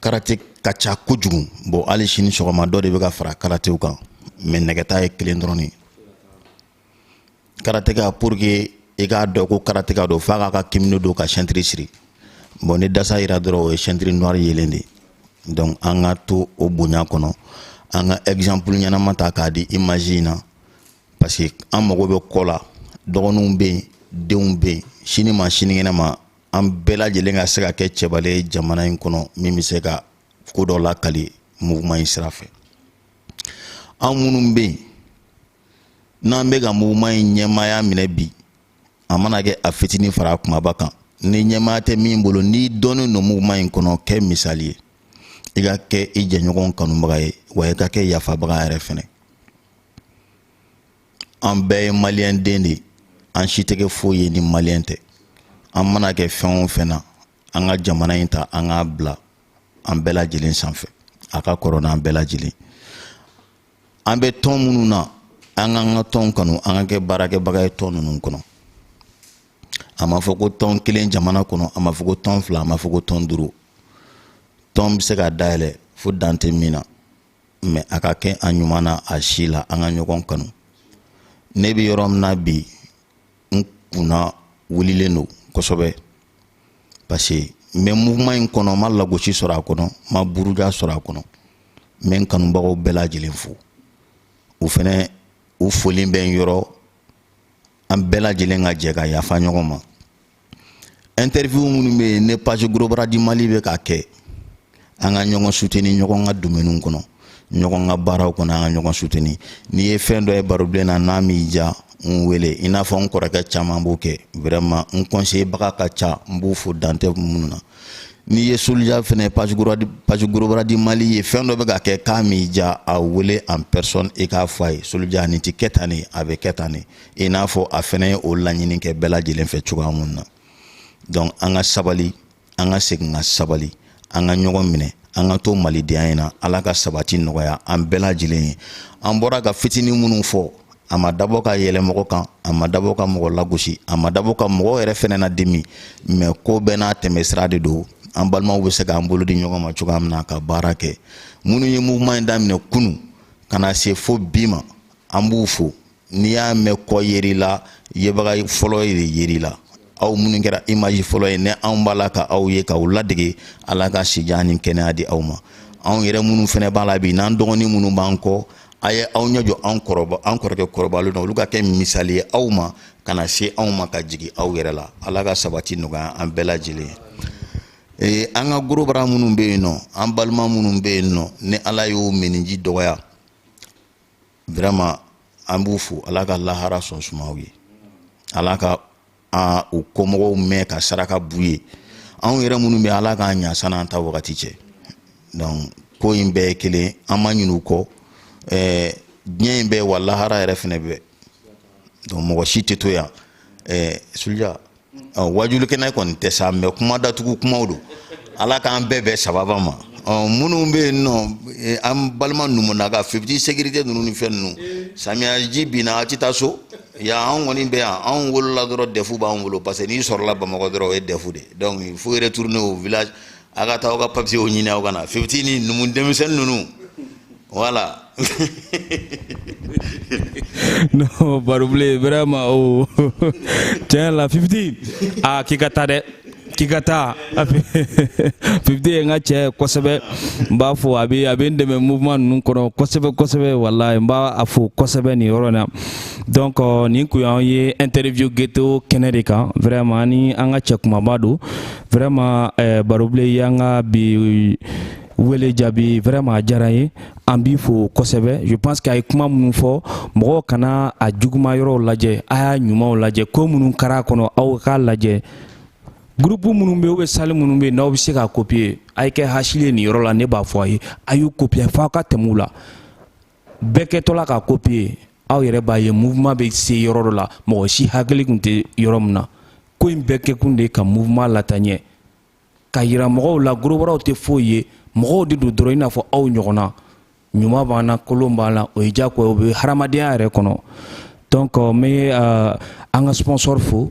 karate ka ca kojugu bɔn hali sini sɔgɔma dɔ de bɛ ka fara karatew kan mɛ nɛgɛta ye kelen dɔrɔn de karateka pour que i k'a dɔn ko karateka don f'a k'a ka kimono don ka sɛntiri siri bɔn ni dasa yira dɔrɔn o ye sɛntiri noir yelen de ye donc an ka to o bonya kɔnɔ an ka exemple ɲɛnama ta k'a di image in na parce que an mago bɛ kɔ la dɔgɔninw bɛ yen denw bɛ yen sini ma sinikɛnɛ ma an bɛɛ lajɛlen ka se ka kɛ cɛbalen ye jamana in kɔnɔ min bɛ se ka ko dɔ lakali mouvement in sira fɛ an minnu bɛ yen n'an bɛ ka mouvement in ɲɛmaaya minɛ bi a mana kɛ a fitinin fara a kumaba kan ni ɲɛmaaya tɛ min bolo n'i dɔnnen don mouvement in kɔnɔ kɛ misali ye i ka kɛ i jɛɲɔgɔn kanubaga ye wa i ka kɛ yafabaga yɛrɛ fɛnɛ an bɛɛ ye maliyɛn den de ye an si tɛ kɛ foyi ye ni maliyɛn tɛ an mana kɛ fɛn o fɛn na an ka jamana in ta an k'a bila an bɛɛ lajɛlen sanfɛ a ka kɔrɔ n'an bɛɛ lajɛlen an bɛ tɔn minnu na an k'an ka tɔnw kanu an ka kɛ baarakɛbaga ye tɔn ninnu kɔnɔ a ma fɔ ko tɔn kelen jamana kɔnɔ a ma fɔ ko tɔn fila a ma fɔ ko tɔn duuru tɔn bɛ se ka dayɛlɛ fo dan tɛ min na mɛ a ka kɛ a ɲuman na a si la an ka ɲɔgɔn kanu ne bɛ yɔrɔ min na bi n kunna wulilen don kosɛbɛ parce que n bɛ mouvement in kɔnɔ n ma lagosi sɔrɔ a kɔnɔ n ma buruja sɔrɔ a kɔnɔ n bɛ n kanubagaw bɛɛ lajɛlen fo u fɛnɛ u foli bɛ n yɔrɔ an bɛɛ lajɛlen ka jɛ ka yafa ɲɔgɔn ma interview minnu bɛ yen ne page gros bras du mali bɛ k'a kɛ an ka ɲɔgɔn suteni ɲɔgɔn ka domɛniw kɔnɔ ɲɔgɔn ka baaraw kɔnɔ an ka ɲɔgɔn suteni n'i ye fɛn dɔ ye barobilen na n'a m'i diya n wele i n'a fɔ n kɔrɔkɛ caman b'o kɛ vraiment n conseiller baga ka ca n b'o fo dan tɛ minnu na n'i ye solija fɛnɛ page gros bras du mali ye fɛn dɔ bɛ ka kɛ k'a m'i diya a wele en personne i k'a fɔ a ye solija nin tɛ kɛ tan ne a bɛ kɛ tan ne i n'a fɔ a fɛnɛ ye o laɲini kɛ bɛɛ lajɛlen fɛ cogoya min na donc an ka sabali an ka segin ka sabali an ka ɲɔgɔn minɛ an ka to malidenya in na ala ka sabati nɔgɔya an bɛɛ lajɛlen ye an bɔra ka fitinin minnu fɔ a ma dabɔ ka yɛlɛ mɔgɔ kan a ma dabɔ ka mɔgɔ lagosi a ma dabɔ ka mɔgɔ yɛrɛ fɛnɛ na dimi mais ko bɛɛ n'a tɛmɛsira de don an balimaw bɛ se k'an bolo di ɲɔgɔn ma cogoya min na ka baara kɛ minnu ye mouvement in daminɛ kunu ka na se fo bi ma an b'u fo n'i y'a mɛn kɔ yeri la yebaga fɔlɔ ye de yeri la aw minnu kɛra image fɔlɔ ye ni anw b'a la ka aw ye k'aw ladege ala ka sijan ni kɛnɛya di aw ma anw yɛrɛ minnu fɛnɛ b'a la bi n'an dɔgɔnin minnu b'an kɔ a ye aw ɲɛ jɔ an kɔrɔba an kɔrɔkɛ kɔrɔbalenw na olu ka kɛ misali ye aw ma ka na se anw ma ka jigin aw yɛrɛ la ala ka sabati nɔgɔya an bɛɛ lajɛlen ye ee an ka gorobara minnu bɛ yen nɔ an balima minnu bɛ yen nɔ ni ala y'o miniji dɔgɔya vraiment an b'u fo ala ka lahara sɔn suma u ye ala ka an u kɔmɔgɔw mɛɛn ka saraka b'u ye anw yɛrɛ minnu bɛ ala k'an ɲa san'an ta wagati cɛ donc ko in bɛɛ ye kelen an ma ɲin'u kɔ ɛɛ diɲɛ in bɛ wa lahara yɛrɛ fɛnɛ bɛ donc mɔgɔ si tɛ to yan ɛɛ sulja waajuli kɛnɛ kɔni tɛ sa mais kuma datugu kumaw don ala k'an bɛɛ bɛn sababa ma minnu bɛ yen nɔ e, an balima numuna ka fifiti sécurité ninnu ni fɛn ninnu samiyaji binna a tɛ taa so ya anw kɔni bɛ yan anw wolola dɔrɔn dɛfu b'an bolo parce que n'i sɔrɔla bamakɔ dɔrɔn o ye dɛfu de donc il faut retourner au village a ka taa aw ka papiyew ɲini aw ka na fifiti ni numu denmisɛnnin ninnu voilà non barobilen vraiment o oh. tiɲɛ la fifiti a ah, k'i ka taa dɛ k'i ka taa fifiti ye n ka cɛ kosɛbɛ n b'a fo a bɛ a bɛ n dɛmɛ mouvement ninnu kɔnɔ kosɛbɛ kosɛbɛ walayi n b'a fo kosɛbɛ nin yɔrɔ in na donc euh, nin kun y'an ye interview ghetto kɛnɛ de kan vraiment ni an ka cɛ kumaba don vraiment eh, barobilen y'an ka bi wele jaabi vraiment a diyara n ye an b'i fo kosɛbɛ je pense que a ye kuma minnu fɔ mɔgɔw kana a juguma yɔrɔw lajɛ a y'a ɲumanw lajɛ ko minnu kɛra a kɔnɔ aw k'a lajɛ groupe minnu bɛ yen ou bien salle minnu bɛ yen n'aw bɛ se k'a copier a ye kɛ hasidi ye nin yɔrɔ la ne b'a fɔ a ye a y'u copier f'aw ka tɛmɛ u la bɛɛ kɛtɔla k'a copier aw yɛrɛ b'a ye mouvement bɛ se yɔrɔ dɔ la mɔgɔ si hakili tun tɛ yɔrɔ min na ko in bɛɛ kɛkun de ka mouvement lataa ɲɛ k'a yira mɔgɔw la gorobaraw tɛ foyi ye mɔgɔw de don dɔrɔn i n'a fɔ aw ɲɔgɔnna ɲuman b'an na kolon b'an na o ye diyagoya o bɛ hadamadenya yɛrɛ kɔnɔ donc n bɛ an ka sponsor fo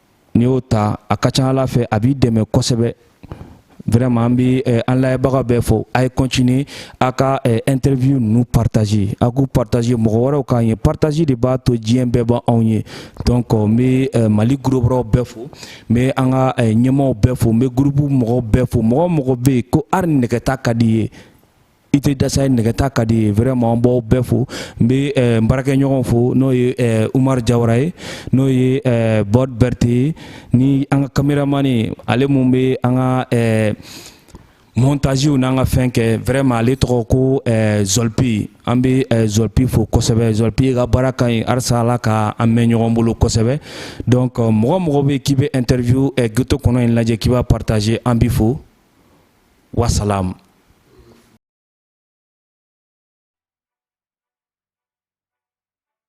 n'i y'o ta a ka ca ala fɛ a b'i dɛmɛ kosɛbɛ vraiment an bɛ eh, an layɛbaga bɛɛ fo a ye continuer a ka eh, interview ninnu partager a k'u partager mɔgɔ wɛrɛw k'a ye partager de b'a to diɲɛ bɛɛ b'anw ye donc n bɛ eh, mali gros brasw bɛɛ fo n bɛ an ka ɲɛmaaw bɛɛ fo n bɛ groupe mɔgɔw bɛɛ fo mɔgɔ o mɔgɔ bɛ yen ko hali nɛgɛta ka d'i ye i tɛ dasa ye nɛgɛta ka d'i ye vraiment n b'aw bɛɛ fo n bɛ eh, n baarakɛɲɔgɔn fo n'o ye eh, Umar Jawara ye n'o ye eh, Bord Berthé ye ni an ka kameramani ale mun bɛ an ka montagew n'an ka fɛn kɛ vraiment ale tɔgɔ ko Zɔlipi an bɛ Zɔlipi fo kosɛbɛ Zɔlipi ka baara ka ɲi halisa Ala ka an mɛn ɲɔgɔn bolo kosɛbɛ donc mɔgɔ o mɔgɔ bɛ k'i bɛ interview ghetto kɔnɔ in lajɛ k'i b'a partager an b'i fo. wasalaam